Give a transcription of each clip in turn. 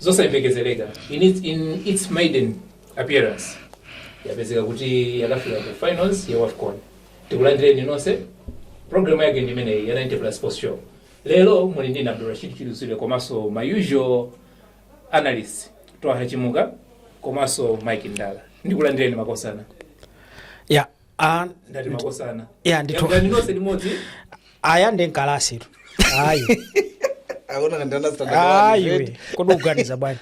zosayembekezereka in its, in its maiden appearance yapezeka kuti yakafika ku finals ya wafcon tikulandireni nonse programu yake ndi imeneyi ya 90 plus sports show lero muli ndi Abdulrashid Chidusire komanso ma usual analyst twaha chimuka komanso mike ndala ndikulandireni makosana ya Ah, ndati makosana ya ndithu ndani nonse limodzi aya nde mkalasitu ayi akuona ngati ana standard one, ayi right? we kodi ukuganiza bwanji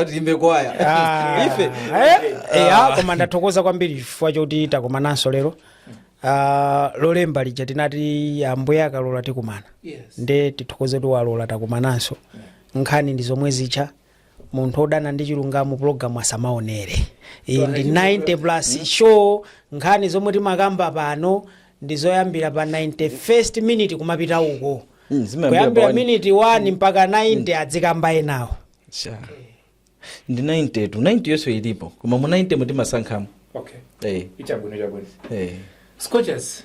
Ati imbe kwaya Ah, ife eh, eh, ah, koma ndathokoza kwambiri chifukwa choti takumananso lero Ah, lolemba lija tinati ambuye akalola tikumana yes nde tithokoze kuti walola takumananso nkhani ndi zomwe zicha munthu wodana ndi chilungamo pulogalamu asamaonere iyi ndi 90 plus show nkhani zomwe timakamba pano ndi zoyambira pa 91st minute kumapita uko Mm, zimayambira kuyambira pa one- minute 1 mpaka 90 adzikamba enawo Sha. ndi 90tu 90 yonse ilipo koma mu 90 mu timasankhamo okay eh, ichabwino chabwino eh. scorchers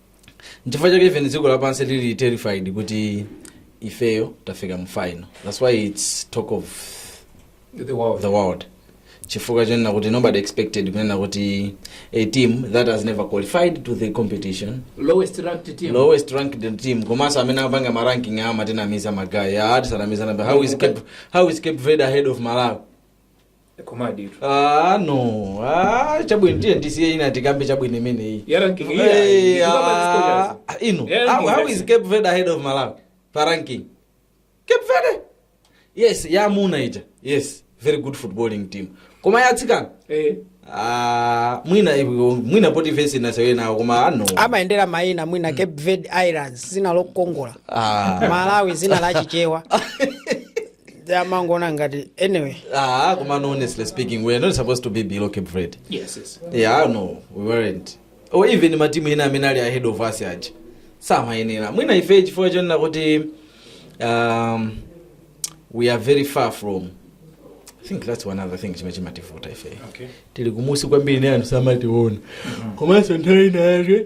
nchifukwa chake even dziko lapansi lili terrified kuti ifeyo tafika mu final that's why its talk of The world. the world chifukwa chonena kuti nobody expected kunena kuti a team that has never qualified to the competition Lowest ranked team. lowest ranked team komanso amene apanga maranking-awo amatinamiza magaye tisanamizane how is cape, how is cape verde ahead of malawi komaditu Ah, no ah, chabwino tiye ndisiye ina tikambe chabwino imeneyi Ya ranking, yeah. Eh, Ndikuba ah, mazikochazo. ah, ino Yeah, how, ranking, how is ranking. cape verde ahead of malawi pa ranking cape verde yes yamuna ija yes very good footballing team koma yatsikana Eh. ah, mwina iwe- mwina poti vesi inasewe nawo koma ano amayendera mayina mwina cape verde islands zina lokongola Ah. malawi zina la chichewa amangona ngati anyway Ah, Kuman, honestly speaking, we are not supposed to be below Cape Verde. Yes, yes. Yeah, no, we weren't. Or even matimu ina amene ali ahead of us aja. Samayenera. Mwina ife chifukwa chonena kuti um, we are very far from I think that's one other thing chimene chimativuta ife. Okay. Tili kumunsi kwambiri nde anthu samationa. Komanso nthawi ina yake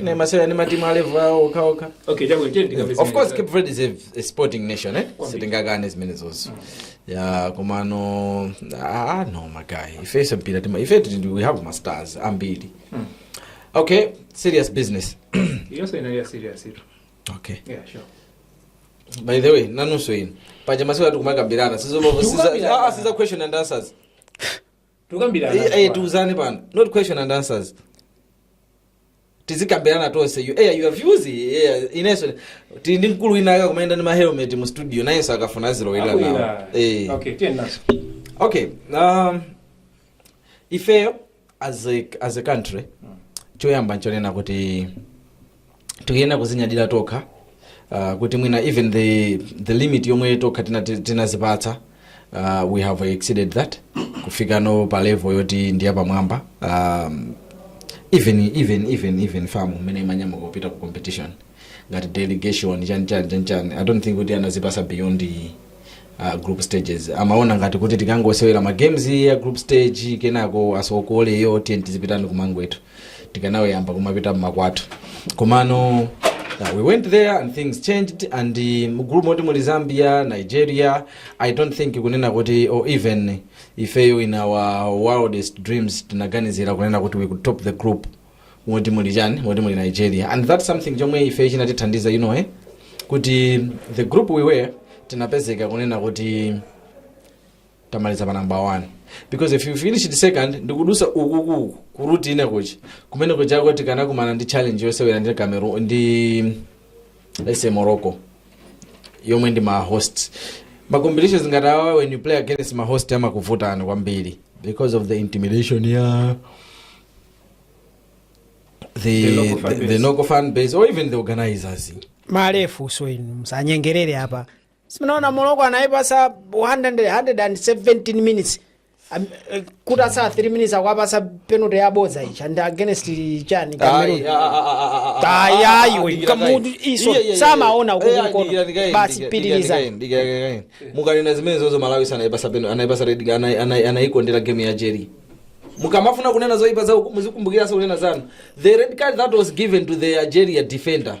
inayi imasewera ndi matimu a level awo okhaokha okay chabwino tiyeni tikapeza of course cape verde is a, a sporting nation eh? sitingakane zimenezoso ya komano ah, no magaye ife sempira tima ife tili ndi- we have ma stars ambiri okay serious business yonse inali ya serious iyo okay yeah sure by the way nanunso inu paja masiku ano tikumakambirana Tikukambirana. siza question and answers tukambirana Eh, eh, tiuzane pano not question and answers tizikambirana tonse you, eh, you have used eh, ineso tili ndi mkulu winawake akumayenda ndi mahelmet mu studio nayenso akafuna azilowera nawo Akuyira. eh. okay tiye nazo okay um, ifeyo as a, as a country choyamba nchonena kuti tikuyenera kuzinyadira tokha uh, kuti mwina even the, the limit yomwe tokha tina- ti- tinazipatsa uh, we have exceeded that kufikano pa level yoti ndi yapamwamba um, even even even even famu mmene timanyamuka kupita ku competition ngati delegation chani chani chani chani i don't think kuti anatipasa beyond uh, group stages amaona ngati kuti tikangosewera ma games ya group stage kenako asokoleyo tiyeni tizipitani kumangwethu tikanayamba kumapita mmakwathu komano uh, we went there and things changed and uh, mu gulu moti muli zambia nigeria i don't think kunena kuti or even ifeyo in our wildest dreams tinaganizira kunena kuti we could top the group moti muli chani moti muli nigeria and that's something chomwe ifeyo chinatithandiza you know eh? kuti the group we were tinapezeka kunena kuti tamaliza pa namba 1 because if you finish the second ndikudusa ukuku kuruti ine kuchi kumene kuchako tikanakumana ndi challenge yosewera ndi cameroon ndi let's say morocco yomwe ndi ma host ma competitions ngati awa when you play against ma host amakuvuta kwambiri because of the intimidation ya the, The local fan the, the base. local fan base or even the organizers malefu so inu musanyengerere apa simunaona Morocco anayipasa 117 minutes Am- eh, kutasala 3 minutes akwapasa penalty yabodza ichi and against chani Cameroon. Ayayiwe, kamutu iso, samaona uku kumkono. Basi, pitirizani. mukanena zimene zozo malawi anaipasa peno anaipasa red anai- anai- anaikondera game ya algeria mukamafuna kunena zoipa zao muzikumbukiranso kunena zanu the red card that was given to the algeria defender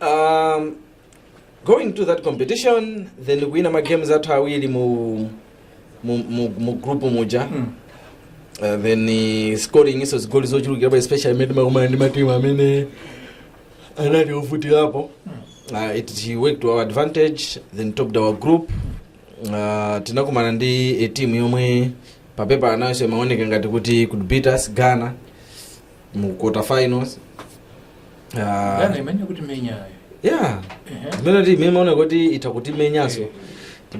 um, going to that competition then ndikuwina ma games athu awiri mu mu, mu, mu group muja mm. uh, then uh, scoring iso zigoli zochulukirapo especially mmene timakumana ndi matimu amene anali ovutirapo uh, it it worked to our advantage then topped our group uh, tinakumana ndi a team yomwe papepa nayonso imaoneka ngati kuti could beat us ghana mu quarter finals uh, Ghana imene ikutimenya ayo. yeah Ehe. zimene timaona kuti itha kutimenyanso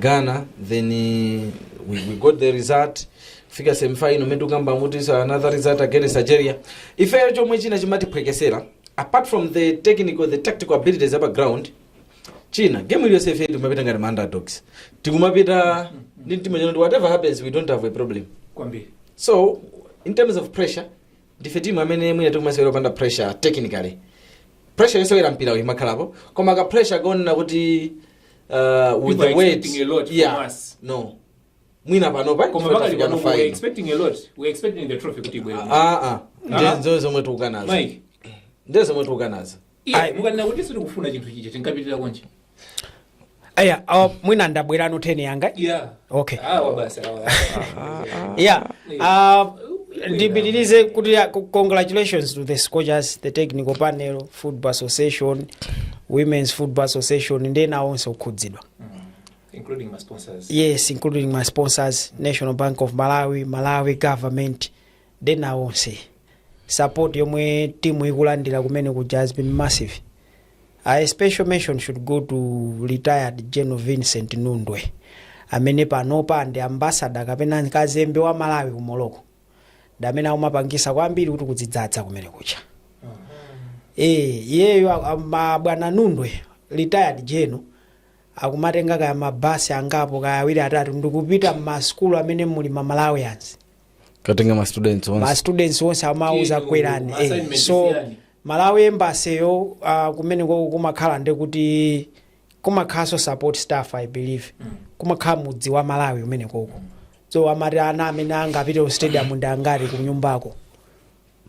ghana then eh, we, we got the result fika semifinal mene tikukambamu kuti is another result against nigeria ifeyo chomwe china chimatiphwekesera apart from the technical the tactical abilities apa ground china game iliyonse ife timapita ngati ma underdogs tikumapita ndi mtima oti no whatever happens we don't have a problem Kwambiri. so in terms of pressure ndife timu amene mwina tikumasewera opanda pressure technically pressure yosewera mpira uyu imakhalapo koma ka pressure konena kuti uh, with People the are weight expecting a lot from yeah us. no mwina panopa koma pakali pano we are expecting a lot we are expecting the trophy kuti ibwere ah ah Ah. ndizo zomwe tukukanazo Mike ndizo zomwe tukukanazo Iyayi, mukanena kuti sitikufuna chinthu chija tinkapitirira konje. aya uh, mwina ndabwerano 10 yanga Yeah. Okay. Awa basi awa. yeah uh, ndipitirize kuti ya- co- congratulations to the scorchers the technical panel football association women's football association ndi ena onse okhudzidwa Including ma sponsors. yes including ma sponsors national bank of malawi malawi government ndi ena onse support yomwe timu ikulandira kumene kuja has been massive a special mention should go to retired general vincent nundwe amene panopa ndi ambasada kapena kazembe wa malawi ku morocco ndi amene akumapangisa kwambiri kuti kudzidzadza kumene kuja Eh, iyeyo a- a- abwana nundwe retired general akumatenga kaya mabasi angapo kaya awiri atatu ndikupita mmasukulu amene muli ma malawians kukatenga ma students ma onse students onse amawauza kwerani eh. so malawi embaseyo uh, kumene koko kumakhala ndi kuti kumakhalanso support staff i believe kumakhala mudzi wa malawi kumene koko so amati ana amene angapite ku stadium ndi angati ku nyumbako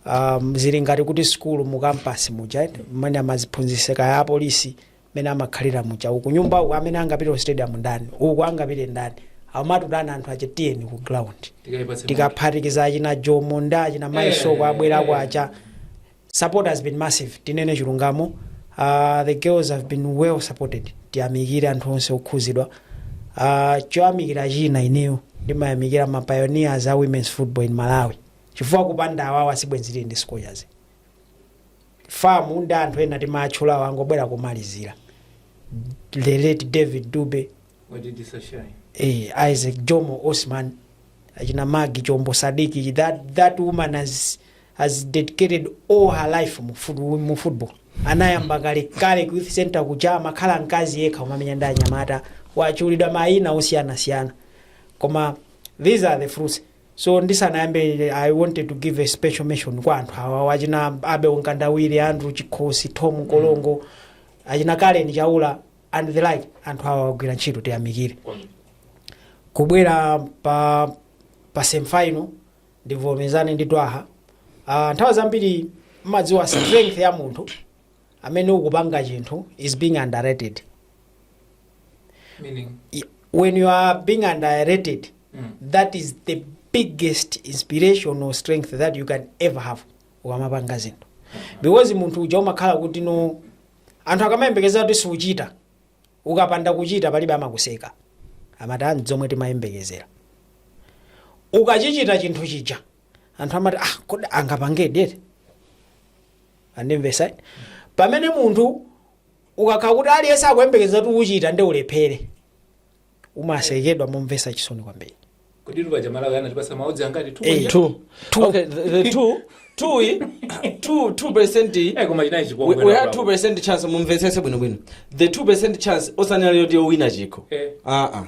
um, zili ngati kuti sukulu mu kampasi muja mmene amadziphunzitsira kaya apolisi mmene amakhalira muja uku nyumba uku amene angapite ku stadium ndani uku angapite ndani amatutana anthu ache tiyeni ku ground Tikaipatse tikaphatikiza achina jomo ndi achina maisoko Eh, abwera eh. kwacha support has been massive tinene chilungamo uh, the girls have been well supported tiyamikire anthu onse okhudzidwa uh, choyamikira china ineyo ndimayamikira ma pioneers a women's football in malawi chifukwa kupanda awawa sibwenzi tili ndi scorchers Fam ndi anthu ena timawatchulawo angobwera komalizira. The late David Dube, Wajidisa Shai. eh, Isaac Jomo Osman, achina Magi Chombo Sadiki, that, that woman has, has dedicated all her life mu, fut, mu football. Anayamba kale kale ku youth center kuja amakhala mkazi yekha umamenya ndi anyamata watchulidwa mayina osiyanasiyana. Koma these are the fruits. so ndisanayambe i wanted to give a special mention kwa anthu awa achina abel mkandawire andrew chikhosi thom mkolongo achina karen chaula and the like anthu awa agwira ntchito tiyamikire kubwera pa pa semifinal ndivomezane ndi twaha uh, nthawi zambiri mumadziwa strength ya munthu amene ukupanga chinthu is being underrated Meaning, Y- when you are being underrated Mm. that is the biggest inspirational strength that you can ever have ukamapanga zinthu because munthu uja umakhala kuti no anthu akamayembekeza kuti siuchita ukapanda kuchita palibe amakuseka amati ah ndi zomwe timayembekezera ukachichita chinthu chija anthu amati ah kodi angapangedi eti Mwandimvesa? Pamene munthu ukakhala kuti aliyense akuyembekeza kuti uchita nde ulephere umasekedwa momvesa chisoni kwambiri kodi luba jamala anatipasa ma odds angati tu Eh, Two. Okay, the, the two, two, i- two, two percent. i- eh koma chinayi We, we had two chikongwe percent chance mumvetsese bwinobwino the two percent chance osanena yoti owina chikho Eh. aa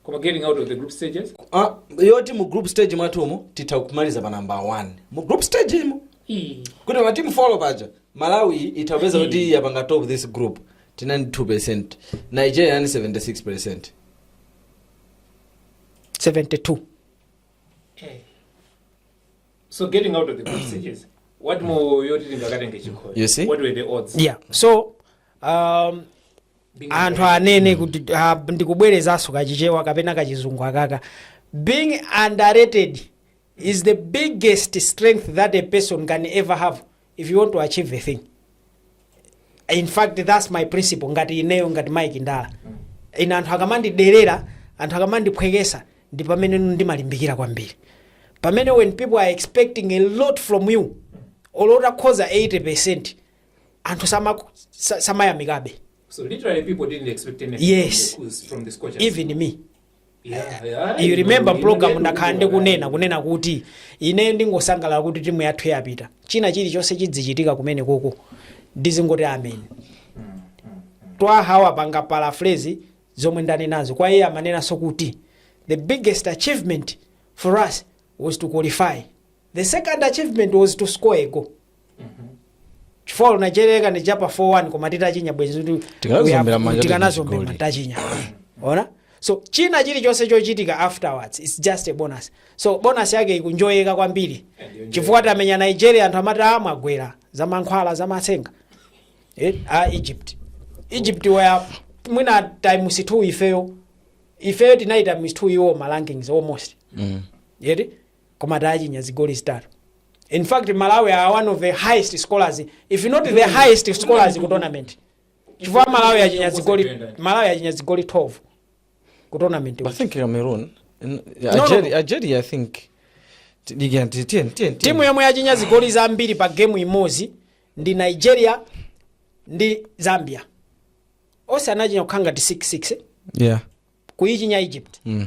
koma getting out of the group stages Ah, yoti mu group stage mwathumu titha kumaliza pa number 1 mu group stage imo Ii. kuti matimu folo paja malawi itha kupeza kuti yapanga top this group tina ndi 2 percent nigeria ni 76 percent 72 Eh. so getting out of the group stages what more yoti tingakatenge chikhoyo You see? what were the odds yeah so um, anthu anene kuti ah, ndikubwerezanso kachichewa kapena kachizungu akaka being underrated is the biggest strength that a person can ever have if you want to achieve a thing in fact thats my principle ngati ineyo ngati mike ndala ine anthu akamandiderera anthu akamandiphwekesa ndi pamene ndimalimbikira kwambiri pamene when people are expecting a lot from you olo utakhoza 80 percent anthu sama- sa- samayamikabe So literally, people didn't expect anything Yes. from the Kuz, from the Scorchers. even me yeah, yeah, you remember know, mu program you know, ndakhala you know, ndikunena kunena kuti ine ndingosangalala kuti timu yathu yapita china chilichonse chidzichitika kumenekoko ndizingoti amen twaha wapanga paraphrase zomwe ndanenazo kwa iye amanenanso kuti the biggest achievement for us was to qualify the second achievement was to score a goal chifukwa nigeria akanatichapa 41 koma titachinya bwenzi kuti Tikanaziombera uya- manja tikanaziombera tichigoli. tachinya ona so china chilichonse chochitika afterwards its just a bonus so bonus yake ikunjoyeka kwambiri chifukwa tamenya nigeria anthu amati amagwera za mankhwala za matsenga eh, a egypt egypt waya mwina times 2 ifeyo ifeyo tinayi times 2 iwo ma rankings almost mm. eti koma tawachinya zigoli zitatu in fact malawi are one of the highest scorers if not the highest scorers ku tournament chifukwa malawi yachinya zigoli malawi yachinya zigoli 12 ku tournament I think Cameroon. n- no, Algeria, no. Algeria, I think. T- Again, t- ten, ten, timu ten. yomwe yachinya zigoli zambiri pa gemu imodzi ndi nigeria ndi zambia onse anachinya kukhala ngati 66 Yeah. kuyichinya egypt Mm.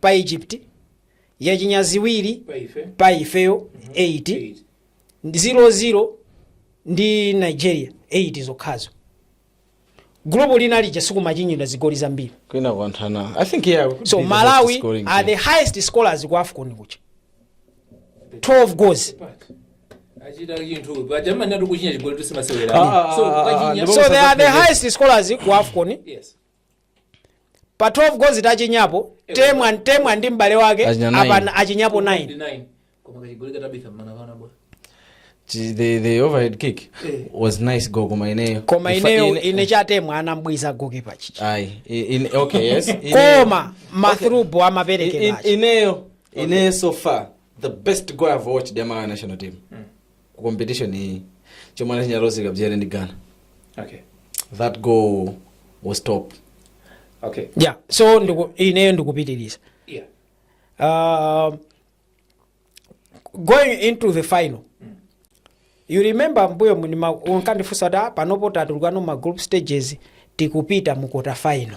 pa Egypt, yachinya ziwiri pa ife pa ifeyo 8 eight. 0 ndi Nigeria 8 zokhazo. Gulupu lina lija sikumachinyidwa zigoli zambiri. kwina kuanthana i think yeah we could So be the best Malawi are the team. highest scorers ku AFCON kuja. 12 goals. achita chinthu pa jamani atu kuchinya chigoli Ah, ah, ah, ah, timasewera ah, so they are the highest scorers ku AFCON yes pa 12 goals tachinyapo temwa temwa ndi m'bale wake Achinya nine. apana achinyapo 9 9 koma kachigoli katabitha mmana vana bwa Chi- the, the overhead kick Eh. was nice goal koma ineyo koma Ifa- ineyo ine- ine chatemwa anambwiza gokipa chichi Ayi, i- ine- okay, yes. Ineyo- koma mathrubo I- i- amaperekera aja ineyo ineyo so far the best goal i've watched ya malawi national team ku competition iyi chomwe anachinya rose kabzere ndi ghana okay that goal was top okay yeah so ndiku, ineyo ndikupitiriza yeah uh, going into the final you remember mbuyo munima unkandifunsa kuti "Ah, panopo tatulukano ma group stages tikupita mu quarter final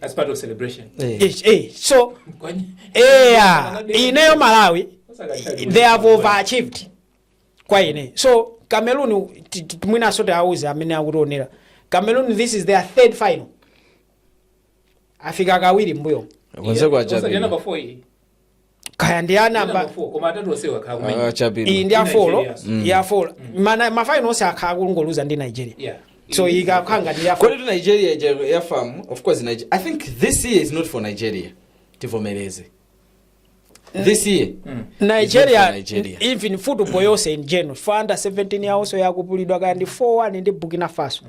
That's part of celebration. Eh. Eh, eh, so Kwani- eya ineyo malawi they have overachieved kwa ine so cameroon ti- ti- mwinaso tiauze amene akutionera cameroon this is their third final afika kawiri mbuyo Kwanza kwa Wasajana Japan. before hii. kaya ndi a namba koma atatu onsewo akhala Ah, kumenya iyi chapidwa ndi a Ndi four Nigeria. Mm. ya four Mana- mafinal onse akhala akungoluza ndi nigeria Yeah. so iyi ikakhala ngati ya four kodi tu nigeria ija ya fam of course Niger- i think this year is not for nigeria tivomereze this year nigeria Nigeria. even football yonse in general for under 17 yawonso yakupulidwa kaya ndi 4-1 ndi burkina faso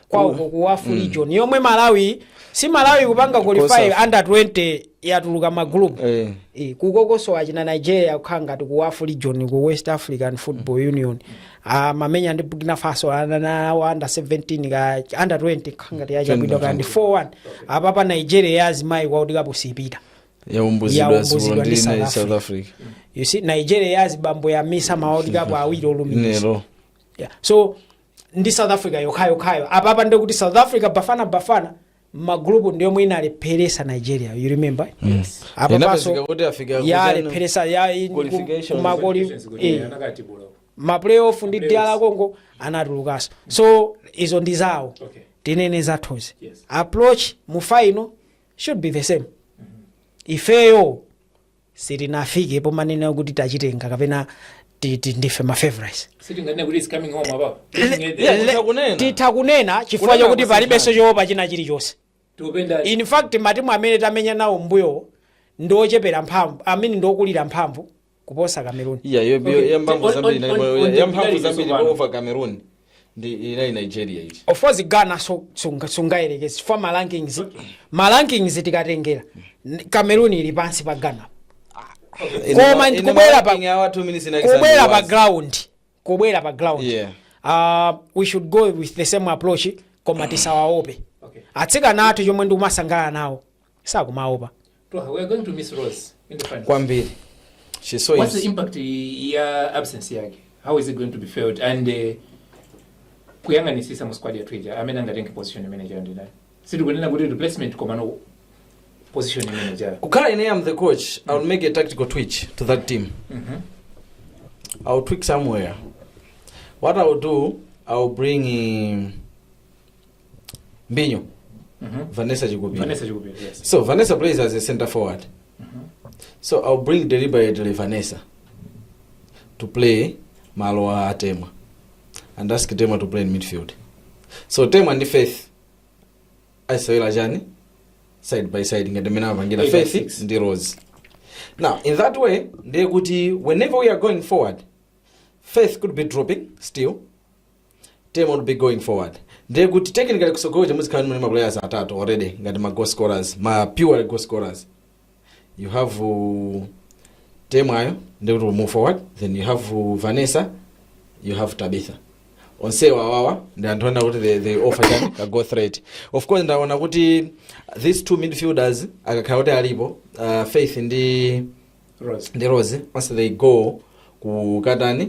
kwawo Ku- ku wafu region yomwe malawi si malawi kupanga qualify Kosafa. under 20 yatuluka magroup Eh. Eh, kukokoso achina nigeria kukhala ngati ku wafu region ku west african football union amamenya ndi burkina faso anyamata awo under 17 ka under 20 kukhala ngati yachabwino kaya ndi 4-1 apapa nigeria ya azimayi kwa kuti cup sipita yaumbuzidwa Yaumbuzidwa zibolo ndi ndi South nayi south africa you see nigeria ya azibambo yamisa ma world cup awiri olumikiza lero Yeah. so ndi south africa yokhayokhayo apapa nde kuti south africa bafana bafana m'magulupu ndi yomwe inalepheresa nigeria you remember yes. Inapezeka kuti afika kuzanu- yalepheresa Qualifications. maplayoff ndi yes. DR kongo anatulukanso so izo ndi zawo Okay. tinene zathuzi Yes. approach mu final should be the same ifeyo sitinafike pomanena kuti tachitenga kapena ti- ti- ndife mafavorites sitinganene kuti it's coming home apapo Yeah, Le- kunena. titha kunena chifukwa Kunena chakuti palibenso kusintha. choopa china chilichonse in fact matimu amene tamenya nawo mbuyowo ndi ochepera mphamvu amene ndi okulira mphamvu kuposa cameroon iya Okay. yamphamvu On- zambiri on- ndipo on- on the yamphamvu medalist zambiri tsopano. over cameroon ndi inali nigeria iti of course ghana so sunga- sungayerekeze ma rankings ma rankings tikatengera n- cameroon ili pansi pa ghana koma ndi kubwera pa kubwera pa ground kubwera pa ground Yeah. uh, we should go with the same approach koma tisawaope atsikana athu chomwe ndikumasangala nawo sakumaopa. Twaha, we are going to miss Rose in the finals. Kwambiri. She's so What's the impact ya absence yake? How is it going to be felt? And uh, kuyang'anisisa mu squad yathu ija amene angatenge position imene ija ndi ndani? Sitikunena kuti replacement koma no position imene ija. Kukhala ine am the coach, I will make a tactical twitch to that team. Mm -hmm. I will tweak somewhere. What I will do, I will bring in mbinyo vanessa chikupira Vanessa Chikupira, yes. so vanessa plays as a center forward so i'll bring deliberately vanessa to play malo a temwa and ask temwa to play in midfield so temwa ndi faith asewera chani side by side ngati mmene amapangira Eight by faith six. ndi rose now in that way ndiye kuti whenever we are going forward faith could be dropping still team would be going forward ndiye kuti technically kutsogoloko muzikhala ndi ma players atatu already ngati ma goal scorers ma pure goal scorers you have uh, Temwa ndiye kuti move forward then you have uh, vanessa you have tabitha onsewa awawa ndi anthu oti they, they offer chani ka goal threat of course ndaona kuti these two midfielders akakhala kuti alipo uh, faith ndi Rose. ndi rose once they go kukatani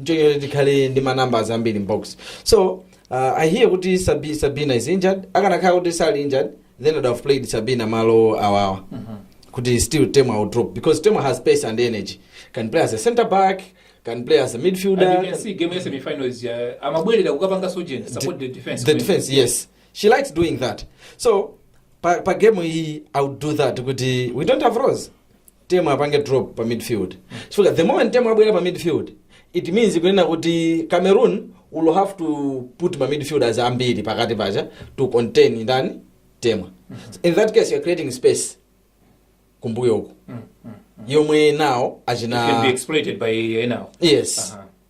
nchoke kuti tikhale ndi manumbers ambiri mbox so uh, i hear kuti Sabi, sabina is injured akanakhala kuti sali injured then would have played sabina malo awawa kuti still tema will drop because tema has space and energy can play as a center back can play as a And you midfielder can see game ya semifinal is uh, amabwerera kukapanga sojen support the defense the defense yes she likes doing that so pa, pa game iyi i would do that kuti we don't have rose Temwa apange drop pa midfield chifukwa the moment Temwa abwera pa midfield it means kunena kuti cameroon will have to put ma midfielders ambiri pakati paja to contain ndani temwa in that case you're creating space kumbuyo uku yomwe nawo It can be achina exploited by Enao. yes Aha.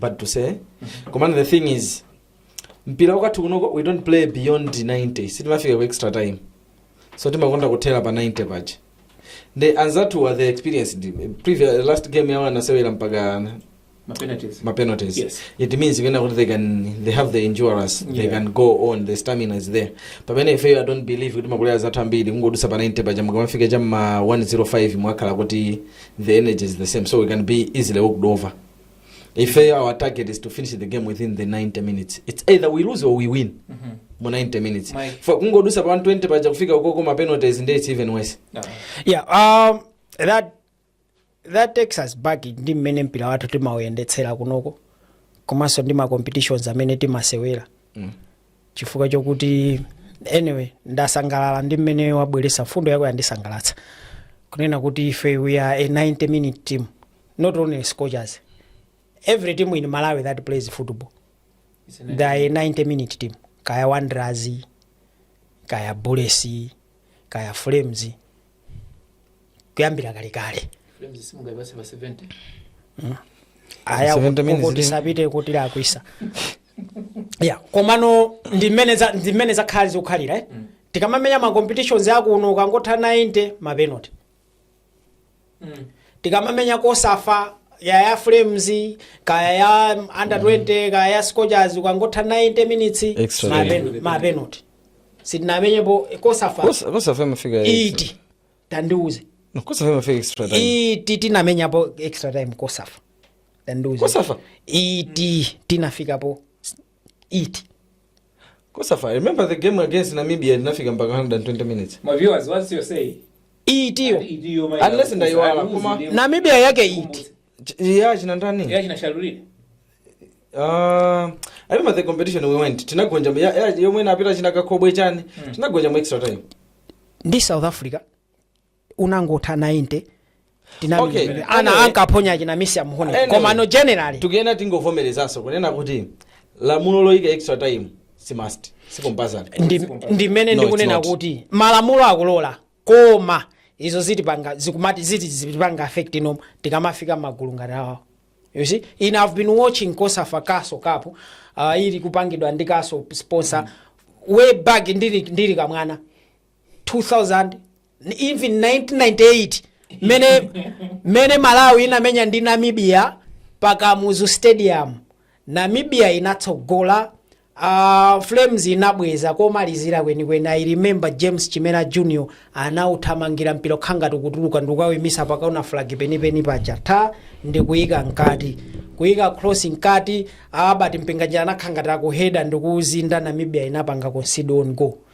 but to say komano the thing is mpira wakathu kunoko we don't play beyond 90 sitimafika ku extra time so timakonda kuthera pa 90 paja nde anzathu are the experienced previous last game yawo anasewera mpaka mapenalties mapenalties Yes. it means kunena kuti they can they have the endurance they Yeah. can go on the stamina is there pamene ifeyo i don't believe kuti ma players athu ambiri kungodutsa pa 90 paja mukamafika cha ma 105 mwakhala kuti the energy is the same so we can be easily walked over if our target is to finish the game within the 90 minutes it's either we lose or we win mu 90 minutes Mike. for kungodusa pa 120 paja kufika ukoko ma penalties nde it's even worse yeah um, that that takes us back ndi mmene mpira wathu timauyendetsera kunoko komanso ndi ma competitions amene timasewera mm. chifukwa chokuti anyway ndasangalala ndi mmene wabweretsa mfundo yako yandisangalatsa kunena kuti ife we are a 90 minute team not only scorchers every team in malawi that plays football they are a 90 minute team kaya wanderers kaya bullets kaya flames kuyambira kalekale Flames simungayipatse pa 70. aya 70 minutes kuti ndi- sapite kuti lakwisa ya komano ndi mmene za- ndi mmene zakhali zikukhalira eh? tikamamenya ma competitions akuno ukangotha 90 mapenalty mm. tikamamenya kosafa kaya ya flames kaya ya under 20 kaya ya scorchers ukangotha 90 minutes Extra ma time. pen- ma penalty sitinamenyepo kosafa Kosa- kosafa imafika iti tandiuze No, kosafa imafika extra time iti tinamenyapo extra time kosafa tandiuze kosafa iti tinafikapo iti kosafa remember the game against namibia tinafika mpaka 120 minutes My viewers, what's your say? itiyo Idiyo mayi Unless ya- ndaiwala, uzi koma- ndiye- namibia yake iti Ch- ya china ndani Ya china Shalulile. Uh, I remember the competition we went tinagonja ya- ya- yomwe anapita china kakobwe chani tinagonja mu extra time ndi south africa unangotha 90 tinamenya Okay. pamene ana Anyway. ankaphonya achina misi amuhone Anyway. koma no generally tikuyenera tingovomerezanso kunena kuti lamulo loyika extra time si must si compulsory Ndi- ndimene No, ndikunena it's not. kuti malamulo akulola koma izo zitipanga zikumati ziti zitipanga affect no tikamafika magulu ngati awawo you see in i've been watching COSAFA Castle Cup uh, ili kupangidwa ndi Castle sponsor way back ndili, ndili kamwana 2000 even 1998 mene mene malawi inamenya ndi namibia pa kamuzu stadium namibia inatsogola uh, flames inabweza komalizira kwenikweni i remember james chimera junior anauthamangira mpira ukhangati ukutuluka ndikukawuimitsa pakaona flag penipeni paja then ndikuyika mkati kuyika cross mkati Albert Mpinganjira anakhangati akuheda ndikuuzinda namibia inapanga concede own goal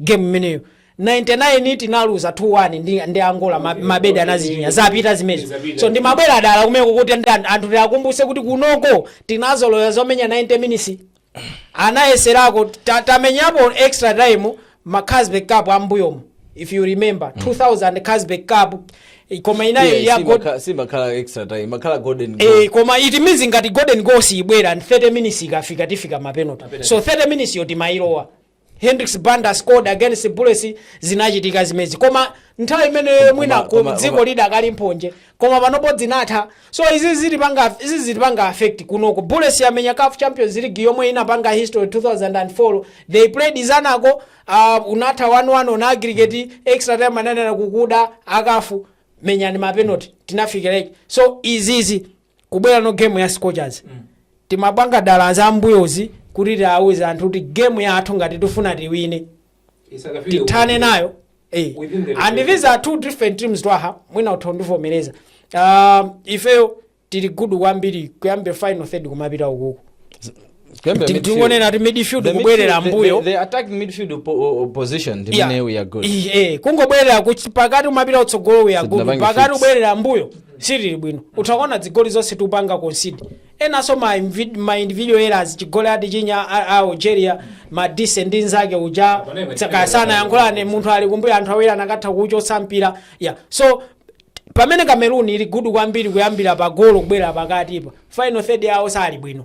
game imeneyo 99 tinaluza 2-1 ndi, ndi angola ma- Mabedi anadzichinya zapita zimezo so ndimabwera dala kumeneko kuti ndan- anthu tiakumbuse kuti kunoko tinazolowera zomenya 90 minutes anayeserako ta- tamenyapo extra time ma Carlsberg cup ammbuyomo if you remember 2000 Carlsberg cup koma inayo ya God- simakhala extra time kumakhala golden goal. Eh, koma it means ngati golden goal siyibwera and 30 minutes ikafika tifike mapenalty so 30 minutes yo timailowa Hendrix Banda scored against Bullets zinachitika zimenezi koma nthawi imene mwina ku koma- dziko koma- lidakali mphonje koma panopo zinatha so izi zitipanga izi zitipanga affect kunoko Bullets yamenya CAF Champions League yomwe inapanga history 2004 they played Zanaco uh, inatha 1-1 on aggregate extra time ananena kukuda a CAF menyani mapenalty tinafika free kick so izizi kubwera now game ya scorchers timapanga dala za mbuyozi kuti tiawuze anthu kuti game yathu ngati tifuna tiwine Isakafike tithane uko. nayo eh. Within the 90 and these are two different teams Twaha mwina utha undivomereza um, ifeyo tili gudu kwambiri kuyambira final third kumapita ukuku Kuyambira Ti- midfield. tingonena ati midfield The kubwerera midfield- the- mbuyo the- the attacking midfield po- o- o- position ndi Yeah. imene we are good Ih, eh, kungobwerera kuchi- pakati kumapita kutsogolo tili gudu Sitinapange pakati fix. kubwerera mbuyo sitili bwino utha kuona zigoli zonse tikupanga concede enanso ma invi- ma individual errors chigoli atichinya a- a algeria madise ndi nzake uja sanayankhulane munthu ali kumbuyo anthu awiri anakatha kuuchotsa mpira ya so pamene cameroon ili gudu kwambiri kuyambira pa golo kubwerera pakatipa final third yawo sali bwino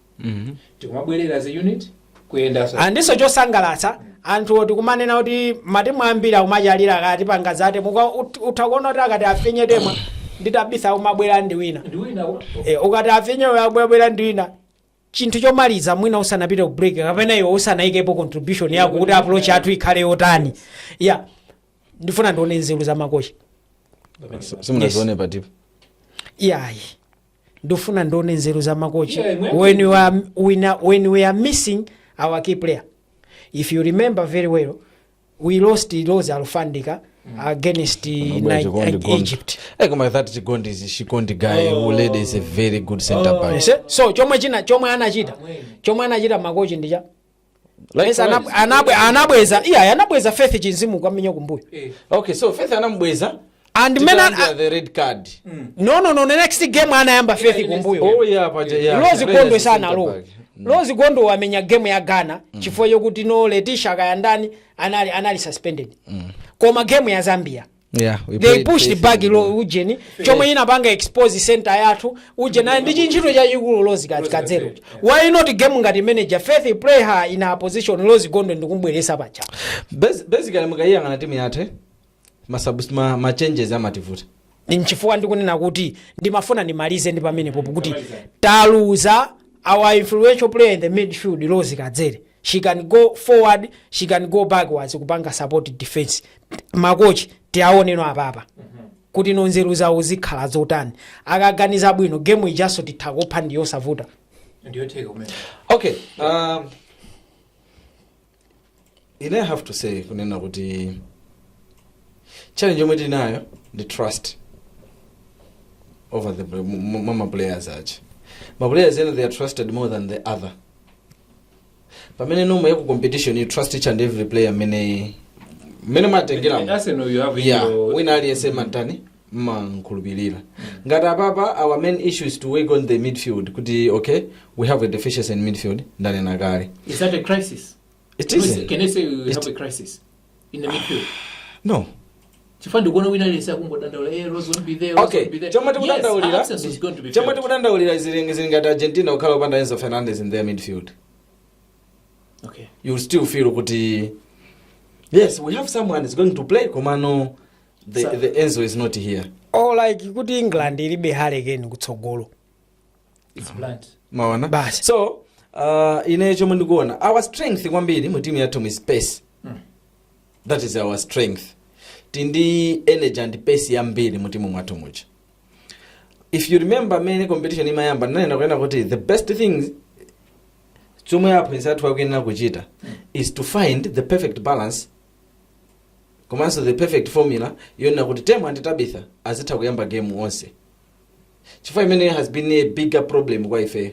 tikumabwerera zi unit kuyenda sa- ndiso chosangalatsa anthu tikumanena kuti matimu ambiri akumachalira akati apange zate muka ut- utha kuona kuti akati afinye Temwa ndi Tabitha akumabwera ndi wina ndi wina wa- e, ukati afinye uyo akubwera ndi wina chinthu chomaliza mwina usanapite ku break kapena iwe usanaikepo contribution yako kuti approach yathu ikhale yotani ya ndifuna ndione nzeru za makochi simunazione patipo iyayi ndifuna ndione nzeru za makochi Yeah, imwe- when we are, when, are- when we are missing our key player if you remember very well we lost Rose Alufandika against Mambo ya Ni- Chikondi Gondi. Egypt Eh, koma that Chikondi is Chikondi guy who led is a very good center back. Yes, eh? so chomwe china chomwe anachita chomwe anachita makochi ndicha Likewise. Yes, anab- anab- anabweza iya anabweza Faith Chinzimu kukamenya kumbuyo okay so Faith anamubweza and mena Tikalandira the red card no no no the next game anayamba Faith kumbuyo oh yeah paja yeah Rose Players gondwe is sana center lo back. Rose Gondwe wamenya game ya Ghana chifukwa chokuti no Leticia kayandani anali anali suspended koma game ya Zambia yeah, we they played pushed Chelsea back before. lo ujeni chomwe inapanga expose center yathu ujeni ali ndi chintchito chachikulu Rose kati Kadzere why not game ngati manager Faith you play her in a position Rose Gondwe ndikumbweretsa paja Bas- basically mukayiyang'ana timu yathu masubs- ma- ma changes amativuta nchifukwa ndikunena kuti ndimafuna ndimalize ndi pamenepo kuti taluza our influential player in the midfield Rose Kadzere she can go forward she can go backwards kupanga support defense makochi tiawoneno apapa kuti no nzeru zawo zikhala zotani akaganiza bwino game ijaso titha kupha ndi yosavuta ndiyotheka kumene okay um, ine I have to say kunena kuti challenge yomwe tinayo ndi trust over the mwa maplayers ache maplayers ena they are trusted more than the other pamene nomwe yaku competition you trust each and every player mmene mmene mwatengera Arsenal you have yeah your- wina aliyese mumatani mmankhulupirira ngati apapa our main issue is to work on the midfield kuti okay we have a deficiency in midfield ndanena kale Is that a crisis? It Can we- isn't. can I say we It- have a crisis in the midfield? No. chifukwa ndikuona wina aliyense akungodandaula eh, Rose won't be there, Rose Okay, won't be there." chomwe Yes, tikudandaulira absence is going to be chomwe felt. tikudandaulira zili zili ngati Argentina kukhala opanda Enzo Fernandez in their midfield. Okay. You still feel kuti yes, we have someone is going to play koma no the, Sa- the Enzo is not here. or like kuti england ilibe harry kane kutsogolo It's blunt. maona Basi. so uh, ine chomwe ndikuona our strength kwambiri mu timu yathu is pace that is our strength tindi energy and pace yambiri mu timu mwathu muja if you remember mene competition imayamba ndinanena kunena kuti the best thing chomwe aphunzitsi athu akuyenera kuchita is to find the perfect balance komanso the perfect formula yonena kuti Temwa ndi Tabitha azitha kuyamba game onse Chifukwa imeneyo has been a bigger problem kwa ifeyo.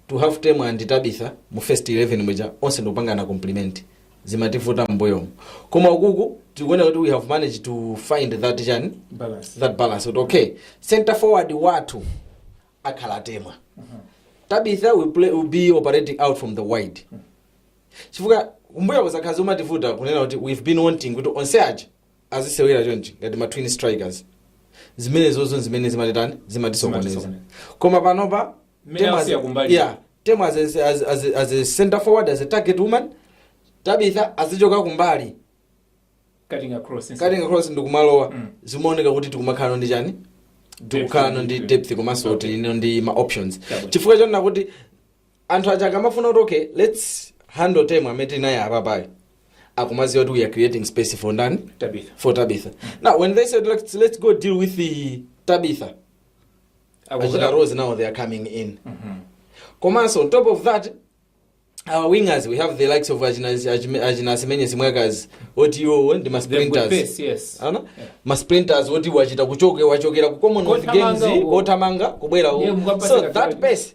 To have Temwa and Tabitha mu first 11 muja onse n'kupangana compliment. Zimatvuta m'mbuyomu. Koma uku tikuona kuti we have managed to find that chani Balance. that balance kuti okay center forward wathu akhala Temwa. Tabitha will, play, will be operating out from the wide. Chifukwa kumbuyo kuja zimativuta kunena kuti we've been wanting kuti onse aja azisewera chonchi ngati ma twin strikers zimenezozo zimene zimatitani zimatisokoneza Zimatisokoneza. koma panopa Mmene Temwa as- asiya kumbali. yeah, Temwa as, a- as, as, a- as a center forward as a target woman tabitha azichoka kumbali cutting across instead. akatenga cross ndikumalowa Mm. zimaoneka kuti tikumakhalano ndi chani tikukhalano ndi Depth. depth komanso Okay. tilino ndi ma options Chabwino. chifukwa chonena kuti anthu aja akamafuna kuti okay let's handle temwa amene tili naye apapayo akumaziwa kuti we are creating space for ndani Tabitha. for tabitha now when they said let's, let's go deal with the tabitha achina rose now they are coming in komanso on top of that our wingers we have the likes of achina achime- achina asimenye simwaka oti iwowo ndi masprinters yes ana ma sprinters oti wachita kuchoke wachokera ku commonwealth Kothamanga games uko. kothamanga kubwera Ndiye uko mukapeza so that kakhale. pace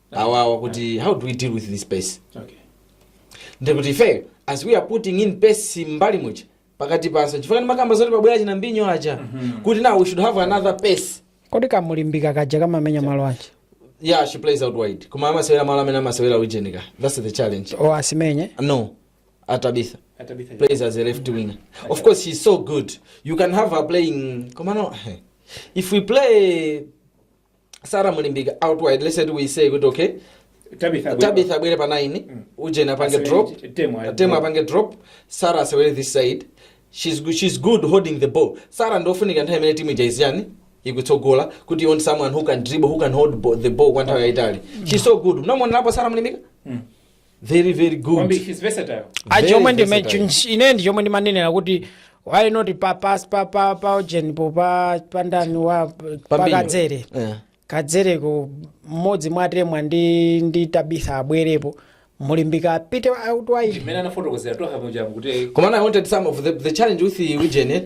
awawa kuti how do we deal with this pace Okay. ndekuti ife as we are putting in pace mbali muja pakati panso chifukwa ndimakamba zoti pabwera achina mbinyo aja kuti now we should have another pace kodi kamulimbika kaja kamamenya malo aja yeah she plays out wide koma amasewera malo amene amasewera ujenika that's the challenge o asimenye no tabitha Atabitha. plays as a left winger of course she's so good you can have her playing komano if we play sara mulimbika outwide let's say we say kuti okay tabitha tabitha abwere pa 9 ujeni apange Asewere drop chi- Temwa ayi- temwa apange drop sara asewere this side she's, go- she's good holding the ball sara ndi wofunika nthawi imene timu ija iziyani ikutsogola kuti you want someone who can dribble who can hold bo- the ball kwa nthawi yayitali she's so good munamuonerapo sara mulimbika very very good Kwambiri, he's versatile. cho Very mwe ine versatile. chi- ine ndi chomwe ndimanenera kuti why not pa pa pa pa pa ujeni po pa pa ndani wa pa Pambiri. kadzere Eh. kadzere uko mmodzi mwatemwa ndi ndi tabitha abwerepo mulimbika apite out wide Imene anafotokozeratu apo jamu kuti Komano I wanted some of the, the challenge with the ujeni,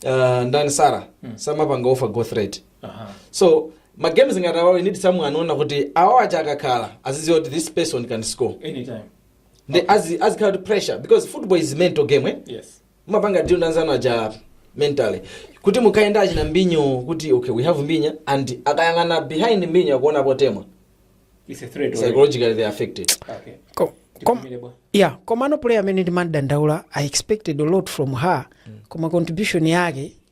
uh, ndani Sara, samapanga offer goal threat. so ma games ngati awa we need someone wonena kuti awa acha akakhala aziziwa kuti this person can score anytime nde azi azikhala pa pressure because football is mental game eh? yes mumapanga deal nanzano aja mentally kuti mukatenga achina mbinyo kuti okay we have mbinyo and akayang'ana behind mbinyo akuona potemwa it's a threat already. psychologically they are affected okay Ko- kom- Tikumvere bwa. yeah komano player amene ndimadandaula i expected a lot from her koma contribution yake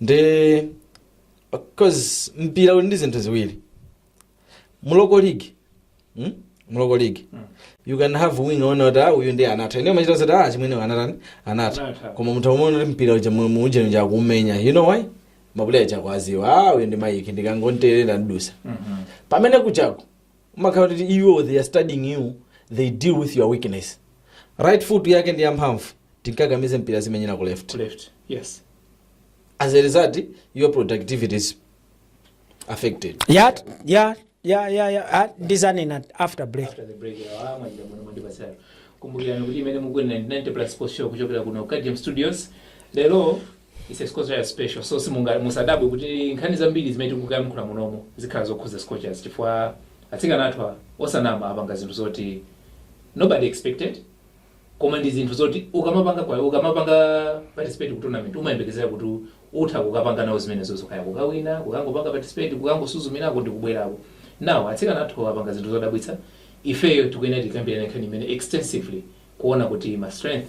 nde of course mpira uli ndi zinthu ziwiri mu local league hmm? mu local league you can have wing one oti ah, uyu ndi anatha ine machita zoti ah chimwene anatani anatha Anatha. koma munthu amene kuti mpira uja mu- mu ujeni uja akuumenya you know why mapuleya akudziwa ah uyu ndi mayiki ndikangonterera ndidutsa pamene kuchako umakhala kuti iwo they are studying you they deal with your weakness right foot yake ndi yamphamvu timkakamize mpira azimenyera ku left to left yes as a result your productivity is affected ya ya ya ya ya ah, ndidzanena after break after the break awa mwajira muno mwandipasala kumbukirani kuti imene mukuonera ndi 90 plus sports show kuchokera kuno Cardjam studios lero It's a Scorcher special. So simunga musadabwe kuti nkhani zambiri zimene tikuyankhula munomo zikhala zokhudza Scorchers chifukwa atsikana athu a- osanama apanga zinthu zoti nobody expected koma ndi zinthu zoti ukamapanga kwa ukamapanga participate ku tournament umayembekezera kuti utha kukapanga nawo zimenezo kaya kukawina kukangopanga participate kukangosuzumirako ndi kubwerako nawo atsikana athu apanga zinthu zodabwitsa ifeyo tikuyenera tikambirane nkhani imene extensively kuona kuti ma strength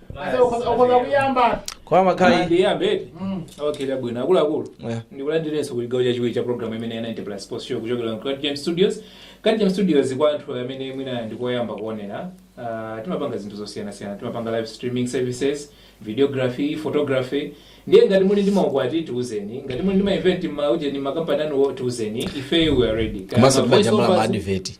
Asa ukhoza ukhoza kuyamba. kwa makhali ndiyambedi Mm. awalandire bwino akuluakulu Yeah. ndikulandireninso ku chigawo chachiwiri cha programu imene ya 90 plus sports show kuchokera ku Cardjam studios Cardjam studios kwa anthu amene mwina nkoyamba kuonera ah, timapanga zinthu zosiyanasiyana timapanga live streaming services videography photography ndiye ngati muli ndi maukwati tiuzeni ngati muli ndi maevent m'maujeni makampani anu tiuzeni ifeyo we are ready Kaya komanso ma voice timajambula overs- maadiveti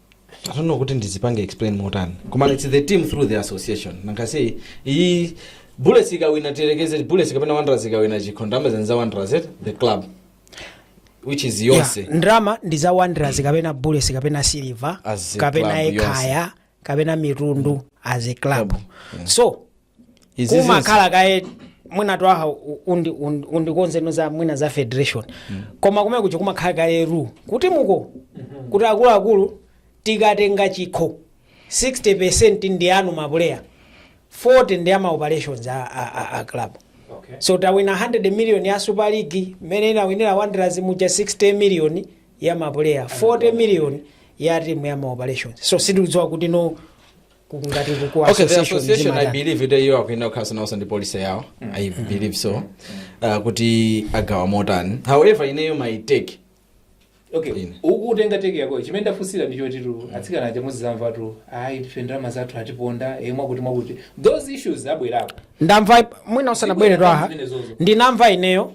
I don't know kuti ndizipange explain motani koma it's the team through the association nankasi iyi bullets ikawina tiyerekeze bullets kapena wanderers ikawina chikho ndalama zija ndi za wanderers eh? the club which is yonse Yeah, ndalama ndi za wanderers kapena bullets kapena silver As a kapena club, yonse. ekhaya kapena mitundu as a club so Izi zinthu- kumakhala kaye mwina twaha u- undi- undi- undikonze mwina za federation koma kumene kuja kumakhala kaye rule mu timu kuti akuluakulu tikatenga chikho 60 percent ndi anu mapuleya 40 ndi ama operations a, a, a, a club Okay. so tawina 100 million ya super league imene inawinira wanderers muja 60 million ya mapuleya 40 million ya timu ya maoperations so sitidziwa kuti no kungati ku okay the association association i zimata believe kuti iyo akuyenera kukhalanso nawonso ndi policy yawo i believe so uh, kuti agawa motani however ineyo my take okay Ine. uku utenga teke yako chimene ndafunsira ndi chotitu atsikana aja mudzizamvatu ayi ife ndalama zathu atiponda e mwakuti mwakuti those issues abwerako ndamva mwina usanabwere twaha Zimenezozo. ndinamva ineyo